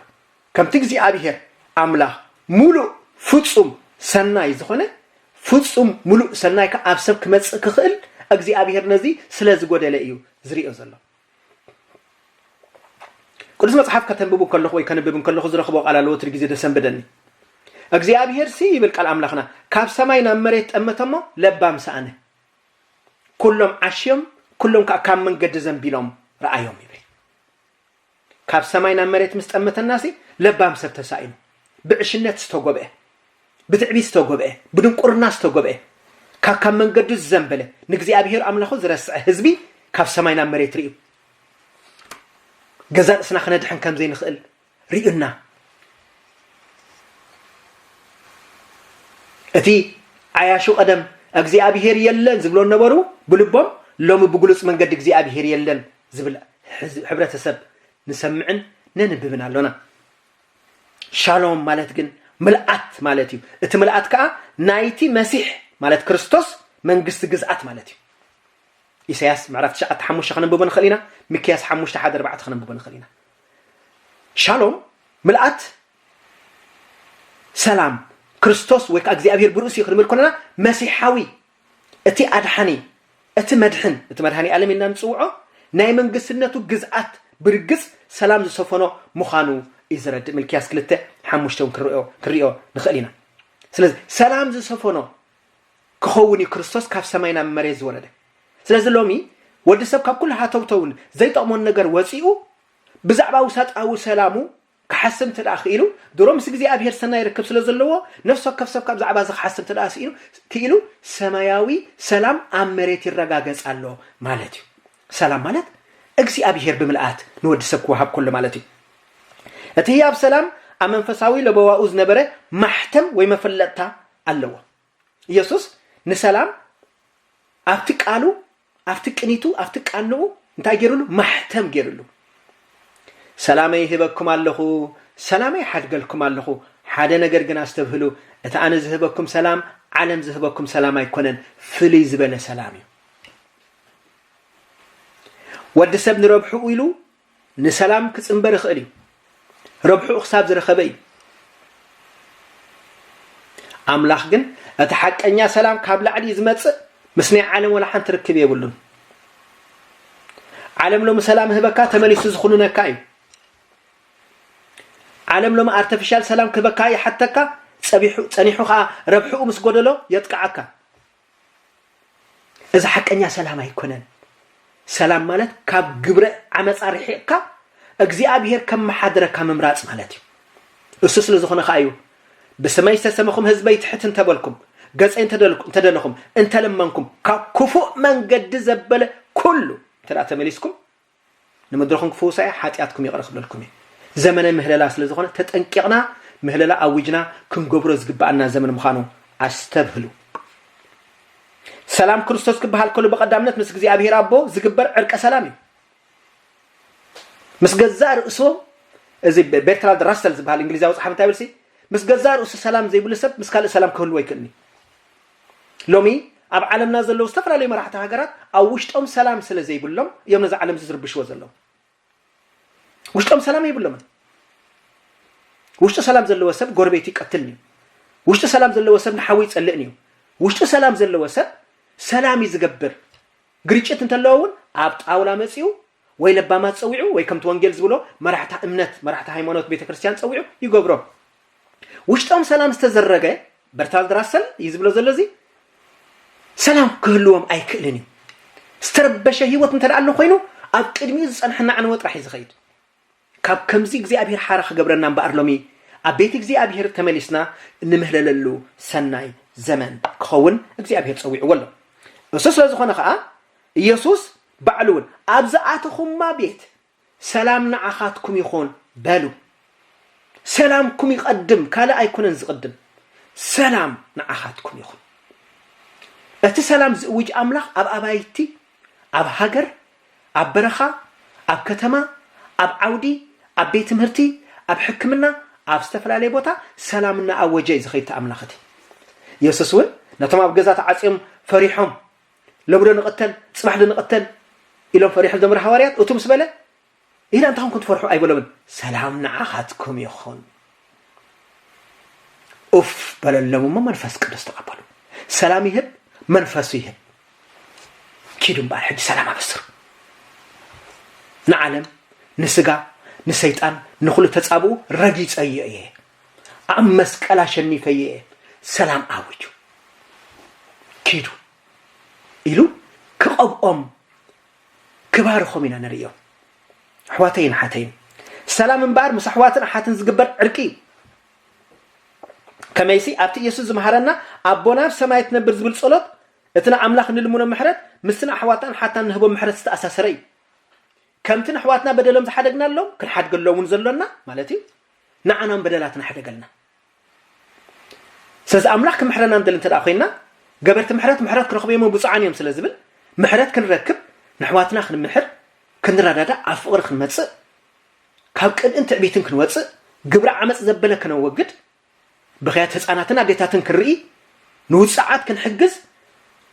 S1: ከምቲ እግዚኣብሄር ኣምላኽ ምሉእ ፍጹም ሰናይ ዝዀነ፣ ፍጹም ምሉእ ሰናይ ከኣ ኣብ ሰብ ክመጽእ ክኽእል እግዚኣብሄር ነዚ ስለ ዝጐደለ ኢዩ ዝርእዮ ዘሎ። ቅዱስ መጽሓፍ ከተንብቡ ከለኹ ወይ ከንብብ እንከለኹ ዝረኽቦ ቃል ኣሎ ወትሪ ግዜ ደሰንብደኒ እግዚኣብሄር ሲ ይብል ቃል ኣምላኽና ካብ ሰማይ ናብ መሬት ጠመተሞ ለባም ሰኣነ ኩሎም ዓሽዮም ኩሎም ከዓ ካብ መንገዲ ዘንቢሎም ረኣዮም ይብል ካብ ሰማይ ናብ መሬት ምስ ጠመተናሲ ለባም ሰብ ተሳኢኑ። ብዕሽነት ዝተጎብኤ፣ ብትዕቢት ዝተጎብኤ፣ ብድንቁርና ዝተጎብኤ፣ ካብ ካብ መንገዱ ዝዘንበለ፣ ንእግዚኣብሄር ኣምላኹ ዝረስዐ ህዝቢ ካብ ሰማይ ናብ መሬት ርእዩ። ገዛ ርእስና ክነድሕን ከም ዘይንኽእል ርእዩና። እቲ ዓያሹ ቀደም እግዚኣብሄር የለን ዝብሎ ነበሩ ብልቦም ሎሚ ብግሉጽ መንገዲ እግዚኣብሄር የለን ዝብል ሕብረተሰብ ንሰምዕን ነንብብን ኣሎና። ሻሎም ማለት ግን ምልኣት ማለት እዩ። እቲ ምልኣት ከዓ ናይቲ መሲሕ ማለት ክርስቶስ መንግስቲ ግዝኣት ማለት እዩ። ኢሳያስ ምዕራፍ ትሽዓተ ሓሙሽተ ከነንብቦ ንኽእል ኢና ሚክያስ ሓሙሽተ ሓደ ኣርባዕተ ከነንብቦ ንኽእል ኢና ሻሎም ምልኣት ሰላም ክርስቶስ ወይ ከዓ እግዚኣብሄር ብርእሲ ክንብል ከለና መሲሓዊ እቲ ኣድሓኒ፣ እቲ መድሕን፣ እቲ መድሃኒኣለም ኢልና ንጽውዖ፣ ናይ መንግስትነቱ ግዝኣት ብርግጽ ሰላም ዝሰፈኖ ምዃኑ እዩ ዘረድእ፣ ምልክያስ ክልተ ሓሙሽተ እውን ክንርእዮ ክንርእዮ ንኽእል ኢና። ስለዚ ሰላም ዝሰፈኖ ክኸውን እዩ ክርስቶስ ካብ ሰማይ ናብ መሬት ዝወረደ። ስለዚ ሎሚ ወዲ ሰብ ካብ ኩሉ ሃተውተውን ዘይጠቕሞን ነገር ወጺኡ ብዛዕባ ውሳጣዊ ሰላሙ ክሓስብ እንተ ደኣ ክኢሉ፣ ድሮ ምስ እግዚኣብሄር ሰናይ ርክብ ስለ ዘለዎ፣ ነፍሲ ወከፍ ሰብ ከኣ ብዛዕባ እዚ ክሓስብ እንተ ደኣ ስኢኑ ክኢሉ፣ ሰማያዊ ሰላም ኣብ መሬት ይረጋገጽ ኣሎ ማለት እዩ። ሰላም ማለት እግዚኣብሄር ብምልኣት ንወዲ ሰብ ክወሃብ ከሎ ማለት እዩ። እቲ ህያብ ሰላም ኣብ መንፈሳዊ ለበዋኡ ዝነበረ ማሕተም ወይ መፈለጥታ ኣለዎ። ኢየሱስ ንሰላም ኣብቲ ቃሉ ኣብቲ ቅኒቱ ኣብቲ ቃንኡ እንታይ ገይሩሉ ማሕተም ገይሩሉ ሰላመይ ህበኩም ኣለኹ ሰላመይ ሓድገልኩም ኣለኹ ሓደ ነገር ግን ኣስተብህሉ እቲ ኣነ ዝህበኩም ሰላም ዓለም ዝህበኩም ሰላም ኣይኮነን ፍልይ ዝበለ ሰላም እዩ ወዲ ሰብ ንረብሕኡ ኢሉ ንሰላም ክጽንበር ይኽእል እዩ፣ ረብሕኡ ክሳብ ዝረኸበ እዩ። ኣምላኽ ግን እቲ ሓቀኛ ሰላም ካብ ላዕሊ እዩ ዝመጽእ፣ ምስ ናይ ዓለም ወላ ሓንቲ ርክብ የብሉን። ዓለም ሎሚ ሰላም ህበካ ተመሊሱ ዝኹንነካ እዩ ዓለም ሎሚ ኣርተፊሻል ሰላም ክህበካ ይሓተካ ጸኒሑ ከዓ ረብሕኡ ምስ ጎደሎ የጥቅዓካ እዚ ሓቀኛ ሰላም ኣይኮነን። ሰላም ማለት ካብ ግብረ ዓመፃ ርሒቕካ እግዚኣብሄር ከመሓድረካ ምምራፅ ማለት እዩ። እሱ ስለ ዝኾነ ከዓ እዩ ብስመይ ዝተሰመኹም ህዝበይ ትሕት እንተበልኩም ገፀይ እንተደለኹም እንተለመንኩም ካብ ክፉእ መንገዲ ዘበለ ኩሉ እንተ ተመሊስኩም ንምድርኹም ክፍውሳ እየ፣ ሓጢኣትኩም ይቕረ ክብለልኩም እየ። ዘመነ ምህለላ ስለ ዝኾነ ተጠንቂቕና ምህለላ ኣዊጅና ክንገብሮ ዝግብኣና ዘመን ምዃኑ ኣስተብህሉ። ሰላም ክርስቶስ ክበሃል ከሎ ብቐዳምነት ምስ እግዚኣብሔር ኣቦ ዝግበር ዕርቀ ሰላም እዩ። ምስ ገዛእ ርእሶም እዚ ቤርትራልድ ራሰል ዝበሃል እንግሊዛዊ ፀሓፍ እንታይ ይብል ሲ ምስ ገዛእ ርእሱ ሰላም ዘይብሉ ሰብ ምስ ካልእ ሰላም ክህልዎ ኣይክእልኒ ሎሚ ኣብ ዓለምና ዘለዉ ዝተፈላለዩ መራሕቲ ሃገራት ኣብ ውሽጦም ሰላም ስለ ዘይብሎም እዮም ነዚ ዓለም እዚ ዝርብሽዎ ዘለዉ። ውሽጦም ሰላም የብሎምን። ውሽጡ ሰላም ዘለዎ ሰብ ጎረቤቱ ይቀትልን እዩ። ውሽጡ ሰላም ዘለዎ ሰብ ንሓዉ ይጸልእን እዩ። ውሽጡ ሰላም ዘለዎ ሰብ ሰላም እዩ ዝገብር። ግርጭት እንተለዎ እውን ኣብ ጣውላ መጺኡ ወይ ለባማት ጸዊዑ ወይ ከምቲ ወንጌል ዝብሎ መራሕታ እምነት መራሕታ ሃይማኖት ቤተክርስትያን ጸዊዑ ይገብሮም ውሽጦም ሰላም ዝተዘረገ በርታልድ ራሰል እዩ ዝብሎ ዘሎ እዚ ሰላም ክህልዎም ኣይክእልን እዩ ዝተረበሸ ህይወት እንተ ኣሎ ኮይኑ ኣብ ቅድሚኡ ዝፀንሐና ዕንወ ጥራሕ እዩ ዝኸይድ ካብ ከምዚ እግዚኣብሔር ሓራ ክገብረና እምበኣር ሎሚ ኣብ ቤት እግዚኣብሔር ተመሊስና እንምህለለሉ ሰናይ ዘመን ክኸውን እግዚኣብሔር ጸዊዕዎ ኣሎ። እሱ ስለ ዝኾነ ከኣ ኢየሱስ ባዕሉ እውን ኣብ ዝኣተኹማ ቤት ሰላም ንዓኻትኩም ይኹን በሉ። ሰላምኩም ይቐድም ካልእ ኣይኮነን ዝቕድም ሰላም ንዓኻትኩም ይኹን። እቲ ሰላም ዝእውጅ ኣምላኽ ኣብ ኣባይቲ ኣብ ሃገር፣ ኣብ በረኻ፣ ኣብ ከተማ፣ ኣብ ዓውዲ፣ ኣብ ቤት ትምህርቲ፣ ኣብ ሕክምና፣ ኣብ ዝተፈላለየ ቦታ ሰላም እናኣወጀ እዩ ዝኸይድ እቲ ኣምላኽ እቲ። የሱስ እውን ነቶም ኣብ ገዛ ተዓጽዮም ፈሪሖም፣ ሎሚዶ ንቕተል፣ ጽባሕዶ ንቕተል ኢሎም ፈሪሖም ዝነበሩ ሃዋርያት እቱ ምስ በለ ኢላ እንታይ ኮን ክትፈርሑ ኣይበሎምን ሰላም ንዓኻትኩም ይኹን ኡፍ በለሎም እሞ መንፈስ ቅዱስ ተቐበሉ ሰላም ይህብ መንፈሱ ይህብ ኪዱ እምበኣር ሕጂ ሰላም ኣበስሩ ንዓለም ንስጋ ንሰይጣን ንኹሉ ተጻብኡ ረጊጸዮ እየ ኣብ መስቀል ኣሸኒፈዮ እየ ሰላም ኣውጁ ኪዱ ኢሉ ክቐብኦም ክባርኾም ኢና ንርእዮም ኣሕዋተይን ኣሓተይን ሰላም እምበኣር ምስ ኣሕዋትን ኣሓትን ዝግበር ዕርቂ እዩ ከመይሲ ኣብቲ ኢየሱስ ዝመሃረና ኣቦና ኣብ ሰማይ ትነብር ዝብል ጸሎት እቲ ንኣምላኽ ንልምኖ ምሕረት ምስቲ ንኣሕዋትናን ሓትናን ንህቦ ምሕረት ዝተኣሳሰረ እዩ ከምቲ ንኣሕዋትና በደሎም ዝሓደግናሎም ክንሓድገሎምን ዘሎና ማለት እዩ ንዓናም በደላትና ሕደገልና ስለዚ ኣምላኽ ክምሕረና ንደሊ እንተ ኮይንና ገበርቲ ምሕረት ምሕረት ክረኽቡ እዮም ብፁዓን እዮም ስለ ዝብል ምሕረት ክንረክብ ንሕዋትና ክንምሕር ክንረዳዳእ ኣብ ፍቕሪ ክንመጽእ ካብ ቅንእን ትዕቢትን ክንወጽእ ግብሪ ዓመፅ ዘበለ ክነወግድ ብክያት ህፃናትን ኣዴታትን ክንርኢ ንውፅዓት ክንሕግዝ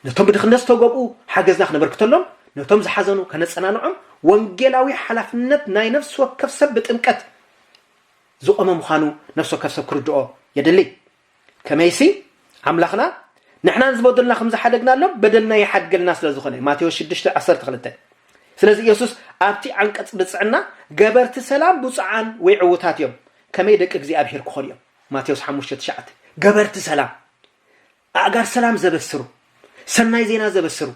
S1: ነቶም ብድኽነት ዝተገብኡ ሓገዝና ክነበርክተሎም ነቶም ዝሓዘኑ ከነፀናንዖም ወንጌላዊ ሓላፍነት ናይ ነፍሲ ወከፍ ሰብ ብጥምቀት ዝቖመ ምዃኑ ነፍሲ ወከፍ ሰብ ክርድኦ የድሊ። ከመይሲ ኣምላኽና ንሕናን ዝበደሉና ከም ዝሓደግናሎም በደልና ይሓድገልና ስለ ዝኾነ እዩ። ማቴዎስ ሽዱሽተ ዓሰርተ ክልተ ስለዚ ኢየሱስ ኣብቲ ዓንቀጽ ብጽዕና ገበርቲ ሰላም ብፁዓን ወይ ዕውታት እዮም ከመይ ደቂ እግዚኣብሔር ክኾኑ እዮም ማቴዎስ ሓሙሽተ ትሽዓተ ገበርቲ ሰላም ኣእጋር ሰላም ዘበስሩ፣ ሰናይ ዜና ዘበስሩ፣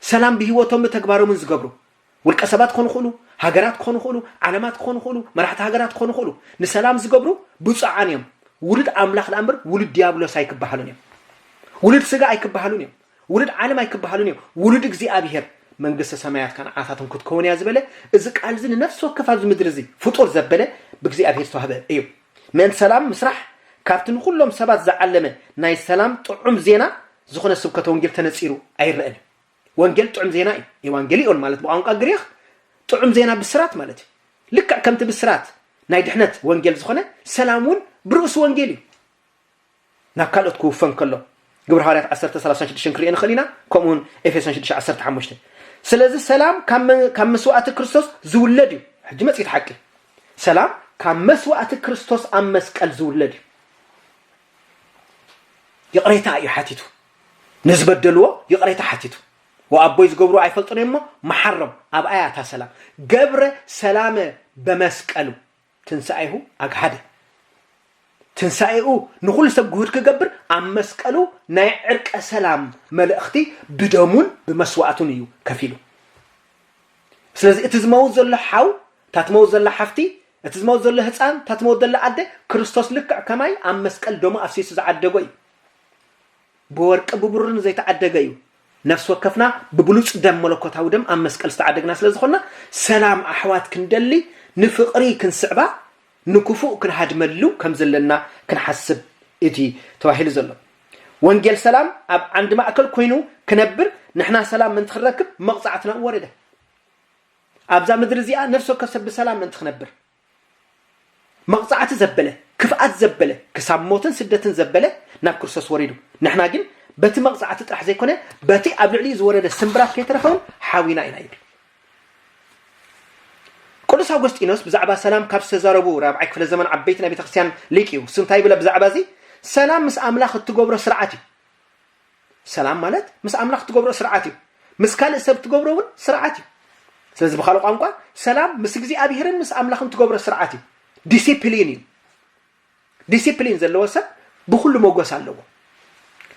S1: ሰላም ብህይወቶምን ብተግባሮምን ዝገብሩ፣ ውልቀ ሰባት ክኾኑ ይኽእሉ፣ ሃገራት ክኾኑ ይኽእሉ፣ ዓለማት ክኾኑ ይኽእሉ፣ መራሕቲ ሃገራት ክኾኑ ይኽእሉ፣ ንሰላም ዝገብሩ ብፁዓን እዮም። ውሉድ ኣምላኽ ደኣ እምበር ውሉድ ዲያብሎስ ኣይክበሃሉን እዮም። ውሉድ ስጋ ኣይክበሃሉን እዮም። ውሉድ ዓለም ኣይክበሃሉን እዮም። ውሉድ እግዚኣብሄር መንግስተ ሰማያት ከ ንዓታቶም ክትከውን እያ ዝበለ እዚ ቃል እዚ ንነፍሲ ወከፍ ኣብዚ ምድሪ እዚ ፍጡር ዘበለ ብእግዚኣብሄር ዝተዋህበ እዩ። ምእንቲ ሰላም ምስራሕ ካብቲ ንኹሎም ሰባት ዝዓለመ ናይ ሰላም ጥዑም ዜና ዝኾነ ስብከተ ወንጌል ተነጺሩ ኣይረኣን እዩ። ወንጌል ጥዑም ዜና እዩ፣ ኤዋንገሊኦን ማለት ብቋንቋ ግሪኽ ጥዑም ዜና ብስራት ማለት እዩ። ልክዕ ከምቲ ብስራት ናይ ድሕነት ወንጌል ዝኾነ ሰላም እውን ብርእሱ ወንጌል እዩ። ናብ ካልኦት ክውፈ እንከሎ፣ ግብሪ ሃዋርያት ዓሰርተ ሰላሳን ሽዱሽተን ክንርእዮ ንኽእል ኢና፣ ከምኡውን ኤፌሶን ሽዱሽተ ዓሰርተ ሓሙሽተ። ስለዚ ሰላም ካብ መስዋእቲ ክርስቶስ ዝውለድ እዩ። ሕጂ መጺኡ እቲ ሓቂ። ሰላም ካብ መስዋእቲ ክርስቶስ ኣብ መስቀል ዝውለድ እዩ። ይቕሬታ እዩ ሓቲቱ። ንዝበደልዎ ይቕሬታ ሓቲቱ። ወኣቦይ ዝገብሩ ኣይፈልጡን እሞ መሓሮም ኣብኣያ እታ ሰላም ገብረ ሰላመ በመስቀሉ ትንሣኤሁ ኣግሃደ ትንሣኤኡ ንኹሉ ሰብ ግሁድ ክገብር ኣብ መስቀሉ ናይ ዕርቀ ሰላም መልእኽቲ ብደሙን ብመስዋእቱን እዩ ከፊሉ ስለዚ እቲ ዝመውት ዘሎ ሓው እታ ትመውት ዘላ ሓፍቲ እቲ ዝመውት ዘሎ ህፃን እታ ትመውት ዘላ ኣደ ክርስቶስ ልክዕ ከማይ ኣብ መስቀል ደሙ ኣፍሲሱ ዝዓደጎ እዩ ብወርቂ ብብሩርን ዘይተዓደገ እዩ። ነፍሲ ወከፍና ብብሉጽ ደም መለኮታዊ ደም ኣብ መስቀል ዝተዓደግና ስለ ዝኾንና ሰላም ኣሕዋት ክንደሊ ንፍቕሪ ክንስዕባ ንክፉእ ክንሃድመሉ ከም ዘለና ክንሓስብ እቲ ተባሂሉ ዘሎ ወንጌል ሰላም ኣብ ዓንዲ ማእከል ኮይኑ ክነብር ንሕና ሰላም ምእንቲ ክንረክብ መቕጻዕትና ወረደ። ኣብዛ ምድሪ እዚኣ ነፍሲ ወከፍ ሰብ ብሰላም ምእንቲ ክነብር መቕጻዕቲ ዘበለ፣ ክፍኣት ዘበለ፣ ክሳብ ሞትን ስደትን ዘበለ ናብ ክርስቶስ ወሪዱ። ንሕና ግን በቲ መቕጻዕቲ ጥራሕ ዘይኮነ በቲ ኣብ ልዕሊኡ ዝወረደ ስምብራት ከይተረፈ እውን ሓዊና ኢና ይብል። ቅዱስ ኣውጎስጢኖስ ብዛዕባ ሰላም ካብ ዝተዛረቡ ራብዓይ ክፍለ ዘመን ዓበይቲ ናይ ቤተ ክርስቲያን ሊቅ እዩ። እሱ እንታይ ይብል ብዛዕባ እዚ ሰላም ምስ ኣምላኽ እትገብሮ ስርዓት እዩ። ሰላም ማለት ምስ ኣምላኽ ትገብሮ ስርዓት እዩ። ምስ ካልእ ሰብ ትገብሮ እውን ስርዓት እዩ። ስለዚ ብካልእ ቋንቋ ሰላም ምስ እግዚኣብሔርን ምስ ኣምላኽን ትገብሮ ስርዓት እዩ። ዲሲፕሊን እዩ። ዲሲፕሊን ዘለዎ ሰብ ብኩሉ መጎስ ኣለዎ።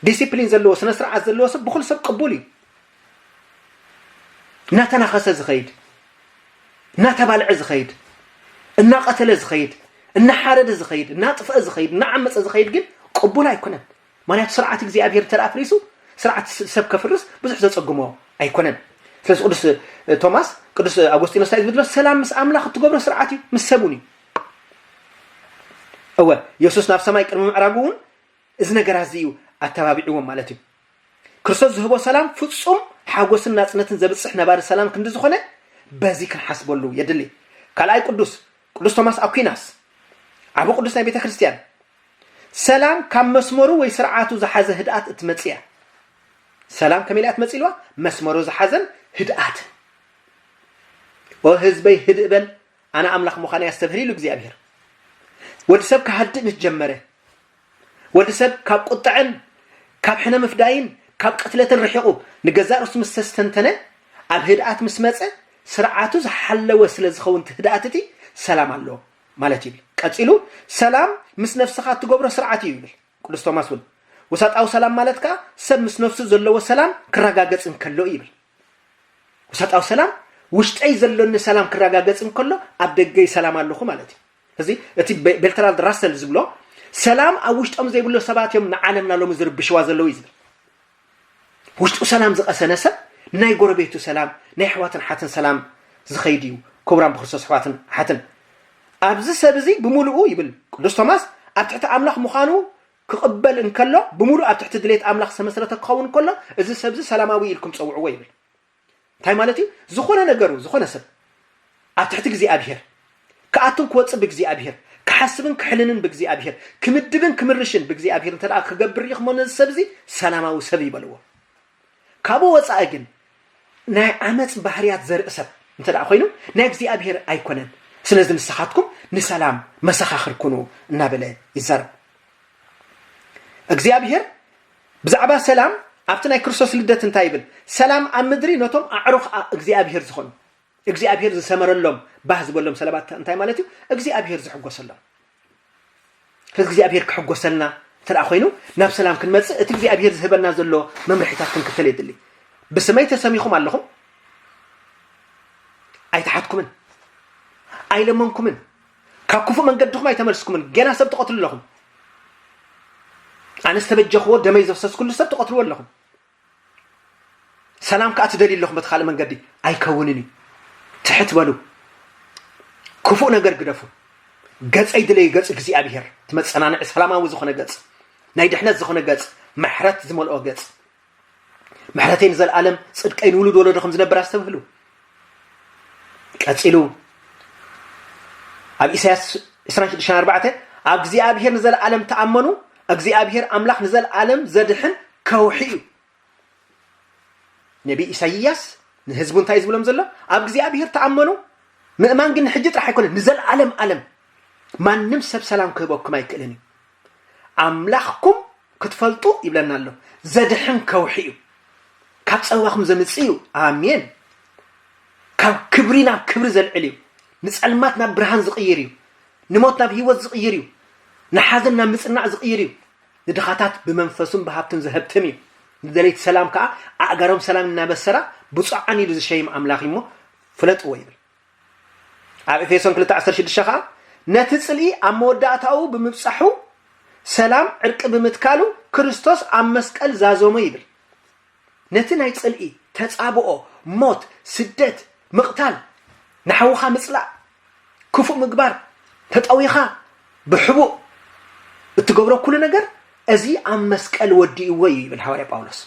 S1: ዲሲፕሊን ዘለዎ ስነ ስርዓት ዘለዎ ሰብ ብኩሉ ሰብ ቅቡል እዩ። እናተናኸሰ ዝኸይድ እናተባልዐ ዝኸይድ እናቐተለ ዝኸይድ እናሓረደ ዝኸይድ እናጥፍአ ዝኸይድ እናዓመፀ ዝኸይድ ግን ቅቡል ኣይኮነን። ምኽንያቱ ስርዓት እግዚኣብሄር እንተ ኣፍሪሱ ስርዓት ሰብ ከፍርስ ብዙሕ ዘጸግሞ ኣይኮነን። ስለዚ ቅዱስ ቶማስ ቅዱስ ኣጎስጢኖስ እንታይ ዝብል ዘሎ ሰላም ምስ ኣምላኽ እትገብሮ ስርዓት እዩ ምስ ሰብ እውን እዩ። እወ የሱስ ናብ ሰማይ ቅድሚ ምዕራጉ እውን እዚ ነገራት እዚ እዩ ኣተባቢዕዎም ማለት እዩ ክርስቶስ ዝህቦ ሰላም ፍጹም ሓጎስን ናጽነትን ዘብጽሕ ነባሪ ሰላም ክንዲ ዝኾነ በዚ ክንሓስበሉ የድሊ ካልኣይ ቅዱስ ቅዱስ ቶማስ ኣኩናስ ዓብ ቅዱስ ናይ ቤተ ክርስትያን ሰላም ካብ መስመሩ ወይ ስርዓቱ ዝሓዘ ህድኣት እትመጽእ እያ። ሰላም ከመይ ኢላ እያ ትመጽእ ኢልዋ? መስመሩ ዝሓዘን ህድኣትን። ኦ ህዝበይ ህድእ በል ኣነ ኣምላኽ ምዃነይ ኣስተብህል ኢሉ እግዚኣብሄር። ወዲ ሰብ ክሃድእ ምስ ጀመረ ወዲ ሰብ ካብ ቁጥዐን ካብ ሕነ ምፍዳይን ካብ ቅትለትን ርሒቑ ንገዛእ ርእሱ ምስ ተስተንተነ ኣብ ህድኣት ምስ መጸ ስርዓቱ ዝሓለወ ስለ ዝኸውን እቲ ህድኣት እቲ ሰላም ኣለዎ። ማለት እዩ ይብል። ቀጺሉ ሰላም ምስ ነፍስኻ እትገብሮ ስርዓት እዩ ይብል። ቅዱስ ቶማስ እውን ውሳጣዊ ሰላም ማለት ከኣ ሰብ ምስ ነፍሱ ዘለዎ ሰላም ክረጋገጽ እንከሎ እዩ ይብል። ውሳጣዊ ሰላም ውሽጠይ ዘሎኒ ሰላም ክረጋገጽ እንከሎ ኣብ ደገይ ሰላም ኣለኹ ማለት እዩ። እዚ እቲ ቤልትራልድ ራሰል ዝብሎ ሰላም ኣብ ውሽጦም ዘይብሎ ሰባት እዮም ንዓለምና ሎሚ ዝርብሽዋ ዘለዉ እዩ ዝብል ውሽጡ ሰላም ዝቐሰነ ሰብ ንናይ ጎረቤቱ ሰላም ናይ ኣሕዋትን ኣሓትን ሰላም ዝኸይድ እዩ ክቡራን ብክርስቶስ ኣሕዋትን ኣሓትን ኣብዚ ሰብ እዚ ብምሉኡ ይብል ቅዱስ ቶማስ ኣብ ትሕቲ ኣምላኽ ምዃኑ ክቕበል እንከሎ ብምሉእ ኣብ ትሕቲ ድሌት ኣምላኽ ዝተመስረተ ክኸውን ከሎ እዚ ሰብዚ ሰላማዊ ኢልኩም ፀውዕዎ ይብል እንታይ ማለት እዩ? ዝኾነ ነገሩ ዝኾነ ሰብ ኣብ ትሕቲ እግዚኣብሔር ክኣቱን ክወፅእ ብእግዚኣብሔር ክሓስብን ክሕልንን ብእግዚኣብሔር ክምድብን ክምርሽን ብእግዚኣብሔር እንተ ክገብር ሪኢኽሞ ነዚ ሰብ እዚ ሰላማዊ ሰብ ይበልዎ። ካብኡ ወፃኢ ግን ናይ ዓመፅ ባህርያት ዘርኢ ሰብ እንተ ኮይኑ ናይ እግዚኣብሔር ኣይኮነን። ስለዚ ንስኻትኩም ንሰላም መሰኻኽር ኩኑ እናበለ ይዛረብ። እግዚኣብሔር ብዛዕባ ሰላም ኣብቲ ናይ ክርስቶስ ልደት እንታይ ይብል? ሰላም ኣብ ምድሪ ነቶም ኣዕሩኽ እግዚኣብሄር ዝኾኑ። እግዚኣብሄር ዝሰመረሎም ባህ ዝበሎም ሰላባት እንታይ ማለት እዩ? እግዚኣብሄር ዝሕጎሰሎም። ስለዚ እግዚኣብሄር ክሕጎሰልና እንተ ኮይኑ ናብ ሰላም ክንመጽእ እቲ እግዚኣብሄር ዝህበና ዘሎ መምርሒታት ክንክተል የድሊ። ብስመይ ተሰሚኹም ኣለኹም ኣይተሓትኩምን ኣይለመንኩምን ካብ ክፉእ መንገድኹም ኣይተመልስኩምን ገና ሰብ ትቐትሉ ኣለኹም ኣነ ዝተበጀኽዎ ደመይ ዘፍሰስኩሉ ሰብ ትቐትልዎ ኣለኹም ሰላም ከዓ ትደልዩ ኣለኹም በቲ ካልእ መንገዲ ኣይከውንን እዩ ትሕት በሉ ክፉእ ነገር ግደፉ ገፀይ ድለዩ ገፅ እግዚኣብሄር እቲ መፀናንዒ ሰላማዊ ዝኾነ ገፅ ናይ ድሕነት ዝኾነ ገፅ ምሕረት ዝመልኦ ገፅ ምሕረተይ ንዘለኣለም ጽድቀይ ንውሉድ ወለዶ ከም ዝነብር ኣስተብህሉ ቀጺሉ ኣብ ኢሳያስ 26 ኣብ እግዚኣብሔር ንዘለኣለም ተኣመኑ እግዚኣብሔር ኣምላኽ ንዘለኣለም ዘድሕን ከውሒ እዩ ነቢ ኢሳይያስ ንህዝቡ እንታይ ዝብሎም ዘሎ ኣብ እግዚኣብሔር ተኣመኑ ምእማን ግን ንሕጂ ጥራሕ ኣይኮነን ንዘለኣለም ኣለም ማንም ሰብ ሰላም ክህበኩም ኣይክእልን እዩ ኣምላኽኩም ክትፈልጡ ይብለና ኣሎ ዘድሕን ከውሒ እዩ ካብ ፀባኹም ዘምፅእ እዩ ኣሜን ካብ ክብሪ ናብ ክብሪ ዘልዕል እዩ ንፀልማት ናብ ብርሃን ዝቕይር እዩ ንሞት ናብ ህይወት ዝቕይር እዩ ንሓዘን ናብ ምፅናዕ ዝቕይር እዩ ንድኻታት ብመንፈሱን ብሃብትን ዘህብትም እዩ ንደለይቲ ሰላም ከዓ ኣእጋሮም ሰላም እናበሰራ ብፁዓን ኢሉ ዝሸይም ኣምላኽ እሞ ፍለጥዎ ይብል ኣብ ኤፌሶን ክልተ ዓሰርተ ሽዱሽተ ኸኣ ነቲ ጽልኢ ኣብ መወዳእታኡ ብምብጻሑ ሰላም ዕርቂ ብምትካሉ ክርስቶስ ኣብ መስቀል ዛዘሞ ይብል ነቲ ናይ ጽልኢ ተጻብኦ ሞት ስደት ምቕታል ንሓውኻ ምጽላእ ክፉእ ምግባር ተጠዊኻ ብሕቡእ እትገብሮ ኩሉ ነገር እዚ ኣብ መስቀል ወዲእዎ እዩ ይብል ሃዋርያ ጳውሎስ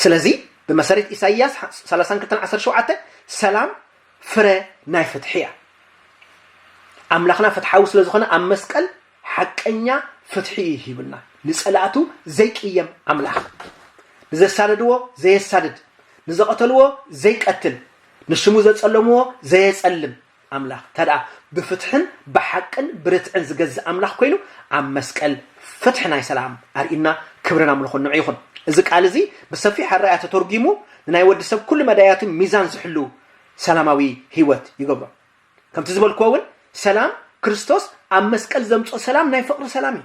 S1: ስለዚ ብመሰረት ኢሳይያስ 32:17 ሰላም ፍረ ናይ ፍትሒ እያ ኣምላኽና ፍትሓዊ ስለ ዝኾነ ኣብ መስቀል ሓቀኛ ፍትሒ እዩ ሂብና ንጸላእቱ ዘይቅየም ኣምላኽ ንዘሳደድዎ ዘየሳድድ ንዘቐተልዎ ዘይቀትል ንሽሙ ዘጸለምዎ ዘየጸልም ኣምላኽ እንተድኣ ብፍትሕን ብሓቅን ብርትዕን ዝገዝእ ኣምላኽ ኮይኑ ኣብ መስቀል ፍትሒ ናይ ሰላም ኣርእዩና ክብርን ኣምልኾን ንዑ ይኹን። እዚ ቃል እዚ ብሰፊሕ ኣረኣያ ተተርጒሙ ንናይ ወዲ ሰብ ኩሉ መዳያቱ ሚዛን ዝሕሉ ሰላማዊ ህይወት ይገብሮ። ከምቲ ዝበልክዎ እውን ሰላም ክርስቶስ ኣብ መስቀል ዘምጽኦ ሰላም ናይ ፍቕሪ ሰላም እዩ።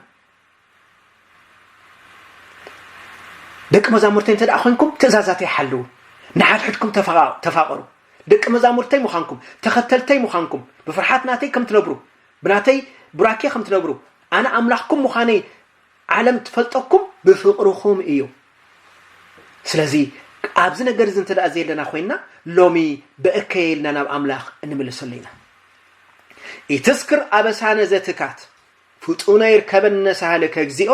S1: ደቂ መዛሙርተይ እንተ ኾንኩም ትእዛዛተይ ሓልዉ ንሓድሕድኩም ተፋቐሩ ደቂ መዛሙርተይ ምዃንኩም ተኸተልተይ ምዃንኩም ብፍርሓት ናተይ ከም ትነብሩ ብናተይ ቡራኬ ከም ትነብሩ ኣነ ኣምላኽኩም ምዃነይ ዓለም ትፈልጠኩም ብፍቕርኹም እዩ ስለዚ ኣብዚ ነገር እዚ እንተ ዘየለና ኮይና ሎሚ በእከየ ኢልና ናብ ኣምላኽ እንምልሰሉ ኢና ኢትስክር ኣበሳነ ዘትካት ፍጡነ ይርከበነ ሳህልከ እግዚኦ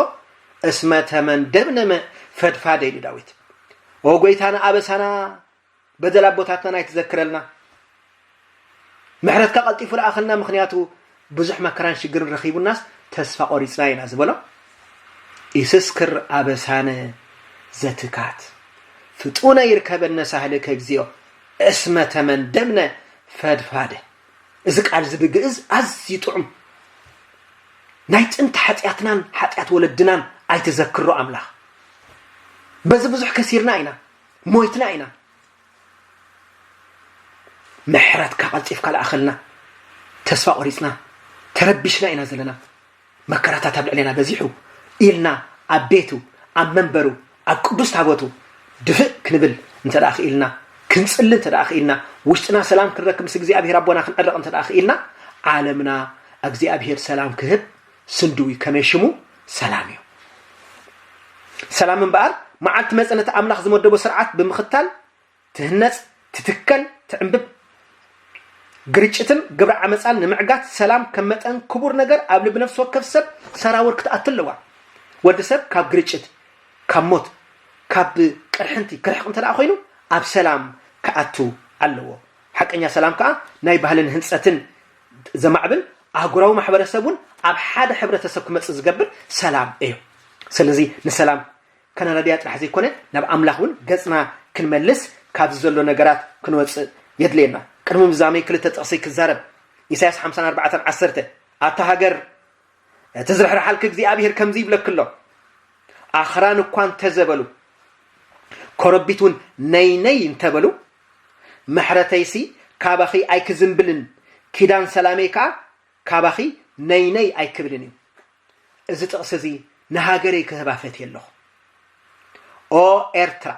S1: እስመ ተመንደብነ ፈድፋደ ኢሉ ዳዊት። ኦ ጎይታና ኣበሳና በደል ኣቦታትናን ኣይትዘክረልና ምሕረትካ ቀልጢፉ ልኣኸልና ምክንያቱ ብዙሕ መከራን ሽግርን ረኺቡናስ ተስፋ ቆሪፅና ኢና ዝበሎ ኢስስክር ኣበሳነ ዘትካት ፍጡነ ይርከበነ ሳህልከ እግዚኦ እስመ ተመንደብነ ፈድፋደ እዚ ቃልዚ ብግእዝ ኣዝዩ ጥዑም ናይ ጥንቲ ሓጢኣትናን ሓጢኣት ወለድናን ኣይትዘክሮ ኣምላኽ በዚ ብዙሕ ከሲርና ኢና ሞይትና ኢና ምሕረትካ ቀልጢፍካ ልኣኸልና ተስፋ ቆሪፅና ተረቢሽና ኢና ዘለና መከራታት ኣብ ልዕሌና በዚሑ ኢልና ኣብ ቤቱ፣ ኣብ መንበሩ፣ ኣብ ቅዱስ ታቦቱ ድፍእ ክንብል እንተደኣ ክኢልና፣ ክንጽሊ እንተደኣ ክኢልና፣ ውሽጥና ሰላም ክንረክብ ምስ እግዚኣብሔር ኣቦና ክንዕረቕ እንተደኣ ክኢልና፣ ዓለምና እግዚኣብሔር ሰላም ክህብ ስንድው እዩ። ከመይ ሽሙ ሰላም እዩ። ሰላም እምበኣር መዓልቲ መጸነቲ ኣምላኽ ዝመደቦ ስርዓት ብምኽታል ትህነፅ፣ ትትከል፣ ትዕምብብ፣ ግርጭትን ግብረ ዓመፃን ንምዕጋት ሰላም ከም መጠን ክቡር ነገር ኣብ ልቢ ነፍሲ ወከፍ ሰብ ሰራውር ክትኣቱ ኣለዋ። ወዲ ሰብ ካብ ግርጭት፣ ካብ ሞት፣ ካብ ቅርሕንቲ ክርሕቕ እንተ ኮይኑ ኣብ ሰላም ክኣቱ ኣለዎ። ሓቀኛ ሰላም ከዓ ናይ ባህልን ህንፀትን ዘማዕብል ኣህጉራዊ ማሕበረሰብ እውን ኣብ ሓደ ሕብረተሰብ ክመፅእ ዝገብር ሰላም እዩ። ስለዚ ንሰላም ከነረድያ ጥራሕ ዘይኮነ ናብ ኣምላኽ እውን ገጽና ክንመልስ ካብዚ ዘሎ ነገራት ክንወጽእ የድልየና። ቅድሚ ምዛመይ ክልተ ጥቕሲ ክዛረብ። ኢሳያስ ሓምሳን ኣርባዕተን ዓሰርተ ኣታ ሃገር እቲ ዝርሕርሓልኪ እግዚኣብሄር ከምዚ ይብለኪ ኣሎ ኣኽራን እኳ እንተዘበሉ ኮረቢት እውን ነይ ነይ እንተበሉ ምሕረተይሲ ካባኺ ኣይክዝንብልን ኪዳን ሰላመይ ከዓ ካባኺ ነይ ነይ ኣይክብልን እዩ እዚ ጥቕሲ እዚ ንሃገረይ ክህባ ፈትየ ኣለኹ ኦ ኤርትራ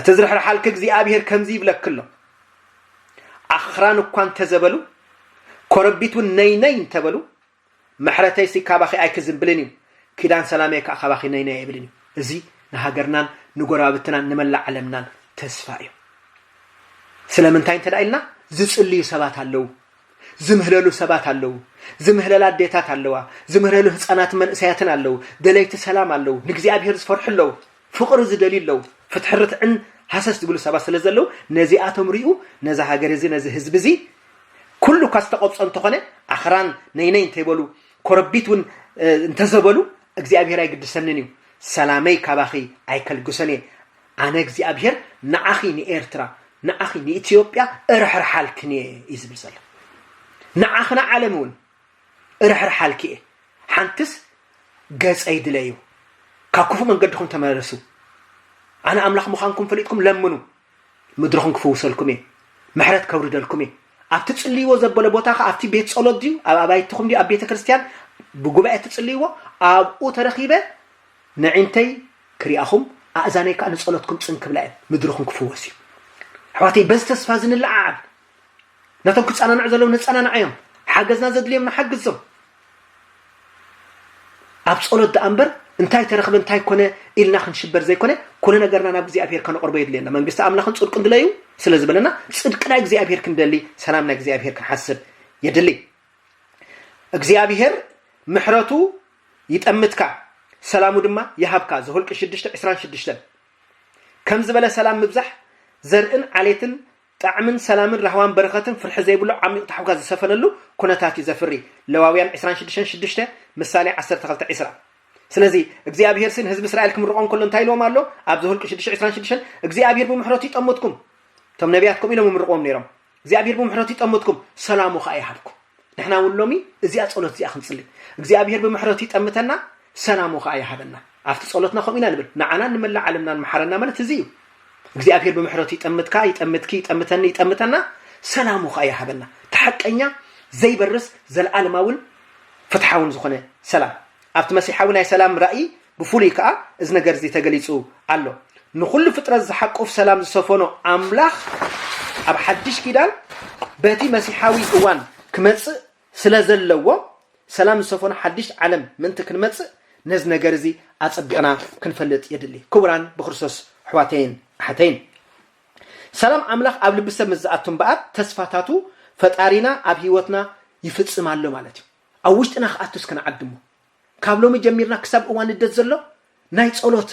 S1: ትዝርሕርሓልኪ እግዚኣብሔር ከምዚ ይብለኪ ኣሎ ኣኽራን እኳ እንተዘበሉ ኮረቢት እውን ነይ ነይ እንተበሉ ምሕረተይሲ ካባኺ ኣይክዝንብልን እዩ፣ ኪዳን ሰላመይ ከኣ ካባኺ ነይነይ ኣይብልን እዩ። እዚ ንሃገርናን ንጎረባብትናን ንመላእ ዓለምናን ተስፋ እዩ። ስለምንታይ እንተ ኢልና ዝጽልዩ ሰባት ኣለዉ፣ ዝምህለሉ ሰባት ኣለዉ፣ ዝምህለላ ኣዴታት ኣለዋ፣ ዝምህለሉ ህጻናትን መንእሰያትን ኣለዉ፣ ደለይቲ ሰላም ኣለዉ፣ ንእግዚኣብሄር ዝፈርሑ ኣለዉ። ፍቕሪ ዝደልዩ ኣለዉ፣ ፍትሕን ርትዕን ሃሰስ ዝብሉ ሰባት ስለ ዘለዉ፣ ነዚኣቶም ሪኡ ነዛ ሃገር እዚ ነዚ ህዝቢ እዚ ኩሉ እኳ ዝተቐብጾ እንተኾነ ኣኽራን ነይ ነይ እንተይበሉ ኮረቢት እውን እንተዘበሉ እግዚኣብሄር ኣይግድሰንን እዩ ሰላመይ ካባኺ ኣይከልግሶን እየ ኣነ እግዚኣብሄር ንዓኺ ንኤርትራ ንዓኺ ንኢትዮጵያ እርሕርሓልክን እየ እዩ ዝብል ዘሎ ንዓኺ ንዓለም እውን እርሕርሓልኪ እየ ሓንትስ ገጸይ ድለዩ ካብ ክፉእ መንገድኹም ተመለሱ ኣነ ኣምላኽ ምዃንኩም ፈሊጥኩም ለምኑ ምድርኹም ክፍውሰልኩም እየ ምሕረት ከውርደልኩም እየ ኣብቲ ጽልይዎ ዘበለ ቦታ ከ ኣብቲ ቤት ጸሎት ድዩ ኣብ ኣባይትኹም ድዩ ኣብ ቤተ ክርስቲያን ብጉባኤ ትጽልይዎ ኣብኡ ተረኺበ ንዒንተይ ክሪኣኹም ኣእዛነይ ከዓ ንጸሎትኩም ጽን ክብላ እየን ምድርኹም ክፍወስ እዩ ኣሕዋተይ በዚ ተስፋ እዚ ንለዓዓል ነቶም ክፀናንዑ ዘለዉ ነፀናንዓዮም ሓገዝና ዘድልዮም ንሓግዞም ኣብ ጸሎት ደኣ እምበር እንታይ ተረኽበ እንታይ ኮነ ኢልና ክንሽበር ዘይኮነ ኩሉ ነገርና ናብ እግዚኣብሄር ከነቕርቦ የድልየና መንግስቲ ኣምላኽን ጽድቅን ድለዩ ስለ ዝበለና ጽድቂ ናይ እግዚኣብሄር ክንደሊ ሰላም ናይ እግዚኣብሄር ክንሓስብ የድሊ እግዚኣብሄር ምሕረቱ ይጠምትካ ሰላሙ ድማ ይሃብካ ዘሁልቂ 6 26 ከም ዝበለ ሰላም ምብዛሕ ዘርእን ዓሌትን ጣዕምን ሰላምን ራህዋን በረኸትን ፍርሒ ዘይብሉ ዓሚቕ ታሕጓስ ዝሰፈነሉ ኩነታት እዩ ዘፍሪ፣ ለዋውያን ዕስራን ሽዱሽተን ሽዱሽተ፣ ምሳሌ ዓሰርተ ክልተ ዕስራ። ስለዚ እግዚኣብሄርሲ ንህዝቢ እስራኤል ክምርቖም ከሎ እንታይ ኢልዎም ኣሎ? ኣብ ዘሁልቍ ሽዱሽተ ዕስራን ሽዱሽተን እግዚኣብሄር ብምሕረቱ ይጠምትኩም። እቶም ነብያት ከምኡ ኢሎም ይምርቕዎም ነይሮም፣ እግዚኣብሄር ብምሕረቱ ይጠምትኩም፣ ሰላሙ ኸኣ ይሃብኩም። ንሕና እውን ሎሚ እዚኣ ጸሎት እዚኣ ክንጽሊ እግዚኣብሔር ብምሕረቱ ይጠምተና ሰላሙ ከኣ ይሃበና ኣብቲ ጸሎትና ከምኡ ኢና ንብል ንዓናን ንመላእ ዓለምናን መሓረና ማለት እዚ እዩ እግዚኣብሔር ብምሕረቱ ይጠምትካ ይጠምትኪ ይጠምተኒ ይጠምተና ሰላሙ ከኣ ይሃበና እቲ ሓቀኛ ዘይበርስ ዘለኣለማውን ፍትሓውን ዝኾነ ሰላም ኣብቲ መሲሓዊ ናይ ሰላም ራእይ ብፍሉይ ከኣ እዚ ነገርዚ ተገሊጹ ኣሎ። ንኹሉ ፍጥረት ዝሓቁፍ ሰላም ዝሰፈኖ ኣምላኽ ኣብ ሓድሽ ኪዳን በቲ መሲሓዊ እዋን ክመጽእ ስለ ዘለዎ ሰላም ዝሰፈኖ ሓድሽ ዓለም ምእንቲ ክንመጽእ ነዚ ነገርዚ ኣጸቢቕና ክንፈልጥ የድሊ። ክቡራን ብክርስቶስ ኣሕዋተይን ኣሓተይን ሰላም ኣምላኽ ኣብ ልቢ ሰብ ምስ ዝኣቱ እምበኣር ተስፋታቱ ፈጣሪና ኣብ ህይወትና ይፍጽም ኣሎ ማለት እዩ። ኣብ ውሽጥና ክኣቱስ ክንዓድሞ ካብ ሎሚ ጀሚርና ክሳብ እዋን ልደት ዘሎ ናይ ጸሎት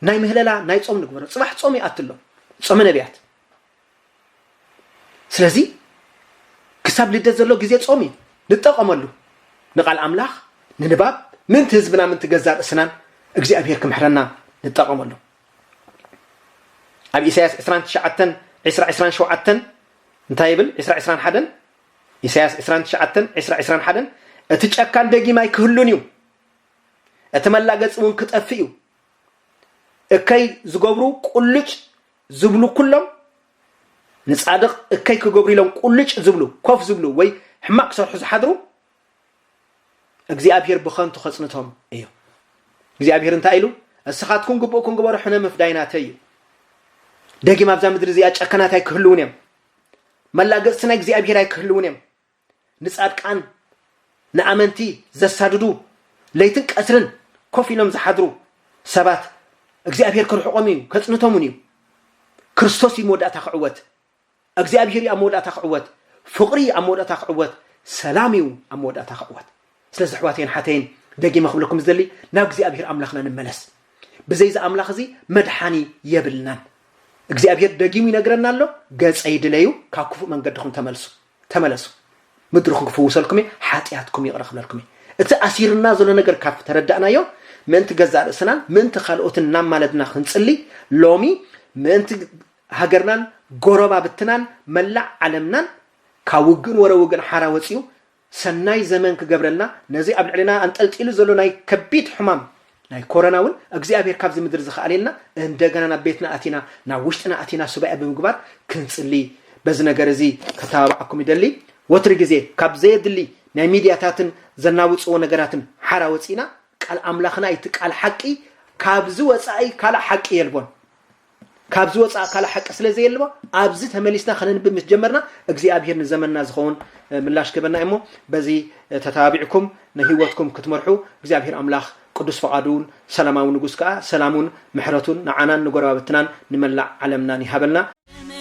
S1: ናይ ምህለላ ናይ ጾም ንግበሮ ጽባሕ ጾም ይኣቲ ኣሎ ጾመ ነቢያት ስለዚ ክሳብ ልደት ዘሎ ግዜ ጾም እዩ ንጠቐመሉ ንቓል ኣምላኽ ንንባብ ምንቲ ህዝብና ምንቲ ገዛ ርእስናን እግዚኣብሄር ክምሕረና ንጠቐመሉ ኣብ ኢሳያስ 29 20 27 እንታይ ይብል 20 21 ኢሳያስ ዕስራን ትሽዓተን ዕስራ ዕስራን ሓደን እቲ ጨካን ደጊም ኣይክህሉን እዩ እቲ መላገፂ እውን ክጠፍእ እዩ እከይ ዝገብሩ ቁልጭ ዝብሉ ኩሎም ንጻድቕ እከይ ክገብሩ ኢሎም ቁልጭ ዝብሉ ኮፍ ዝብሉ ወይ ሕማቕ ክሰርሑ ዝሓድሩ እግዚኣብሄር ብኸንቱ ከጽንቶም እዩ እግዚኣብሄር እንታይ ኢሉ እስኻትኩም ግቡእኩም ግበሩ ሕነ ምፍዳይ ናተይ እዩ ደጊም ኣብዛ ምድሪ እዚኣ ጨከናት ኣይክህልውን እዮም መላገጽቲ ናይ እግዚኣብሔር ኣይክህልውን እዮም። ንጻድቃን ንኣመንቲ ዘሳድዱ ለይትን ቀትርን ኮፍ ኢሎም ዝሓድሩ ሰባት እግዚኣብሔር ክርሕቆም እዩ ከጽንቶም እውን እዩ። ክርስቶስ እዩ መወዳእታ ክዕወት፣ እግዚኣብሔር እዩ ኣብ መወዳእታ ክዕወት፣ ፍቕሪ እዩ ኣብ መወዳእታ ክዕወት፣ ሰላም እዩ ኣብ መወዳእታ ክዕወት። ስለዚ ኣሕዋተይን ሓተይን ደጊመ ክብለኩም ዝደሊ ናብ እግዚኣብሄር ኣምላኽና ንመለስ ብዘይ እዚ ኣምላኽ እዚ መድሓኒ የብልናን እግዚኣብሄር ደጊሙ ይነግረና ኣሎ ገጸይ ድለዩ ካብ ክፉእ መንገድኹም ተመልሱ ተመለሱ ምድርኹም ክፍውሰልኩም እየ ሓጢኣትኩም ይቕረ ክብለልኩም እየ እቲ ኣሲርና ዘሎ ነገር ካብ ተረዳእናዮ ምእንቲ ገዛእ ርእስናን ምእንቲ ካልኦትን እናማለድና ክንጽሊ ሎሚ ምእንቲ ሃገርናን ጎረባብትናን መላእ ዓለምናን ካብ ውግእን ወረ ውግእን ሓራ ወፂኡ ሰናይ ዘመን ክገብረልና ነዚ ኣብ ልዕሌና ኣንጠልጢሉ ዘሎ ናይ ከቢድ ሕማም ናይ ኮረና ውን እግዚኣብሔር ካብዚ ምድሪ ዝክኣሌልና እንደገና ናብ ቤትና ኣቲና ናብ ውሽጥና ኣቲና ሱባኤ ብምግባር ክንጽሊ በዚ ነገር እዚ ከተባብዓኩም ይደሊ ወትሪ ግዜ ካብ ዘየድሊ ናይ ሚድያታትን ዘናውጽዎ ነገራትን ሓራ ወጺእና ቃል ኣምላኽና እዩ እቲ ቃል ሓቂ ካብዚ ወጻኢ ካልእ ሓቂ የልቦን ካብዚ ወፃእ ካልእ ሓቂ ስለ ዘየልባ ኣብዚ ተመሊስና ከነንብብ ምስ ጀመርና እግዚኣብሄር ንዘመንና ዝኸውን ምላሽ ክህበና እሞ በዚ ተተባቢዕኩም ንህይወትኩም ክትመርሑ እግዚኣብሄር ኣምላኽ ቅዱስ ፈቓዱን ሰላማዊ ንጉስ ከዓ ሰላሙን ምሕረቱን ንዓናን ንጎረባብትናን ንመላእ ዓለምናን ይሃበልና።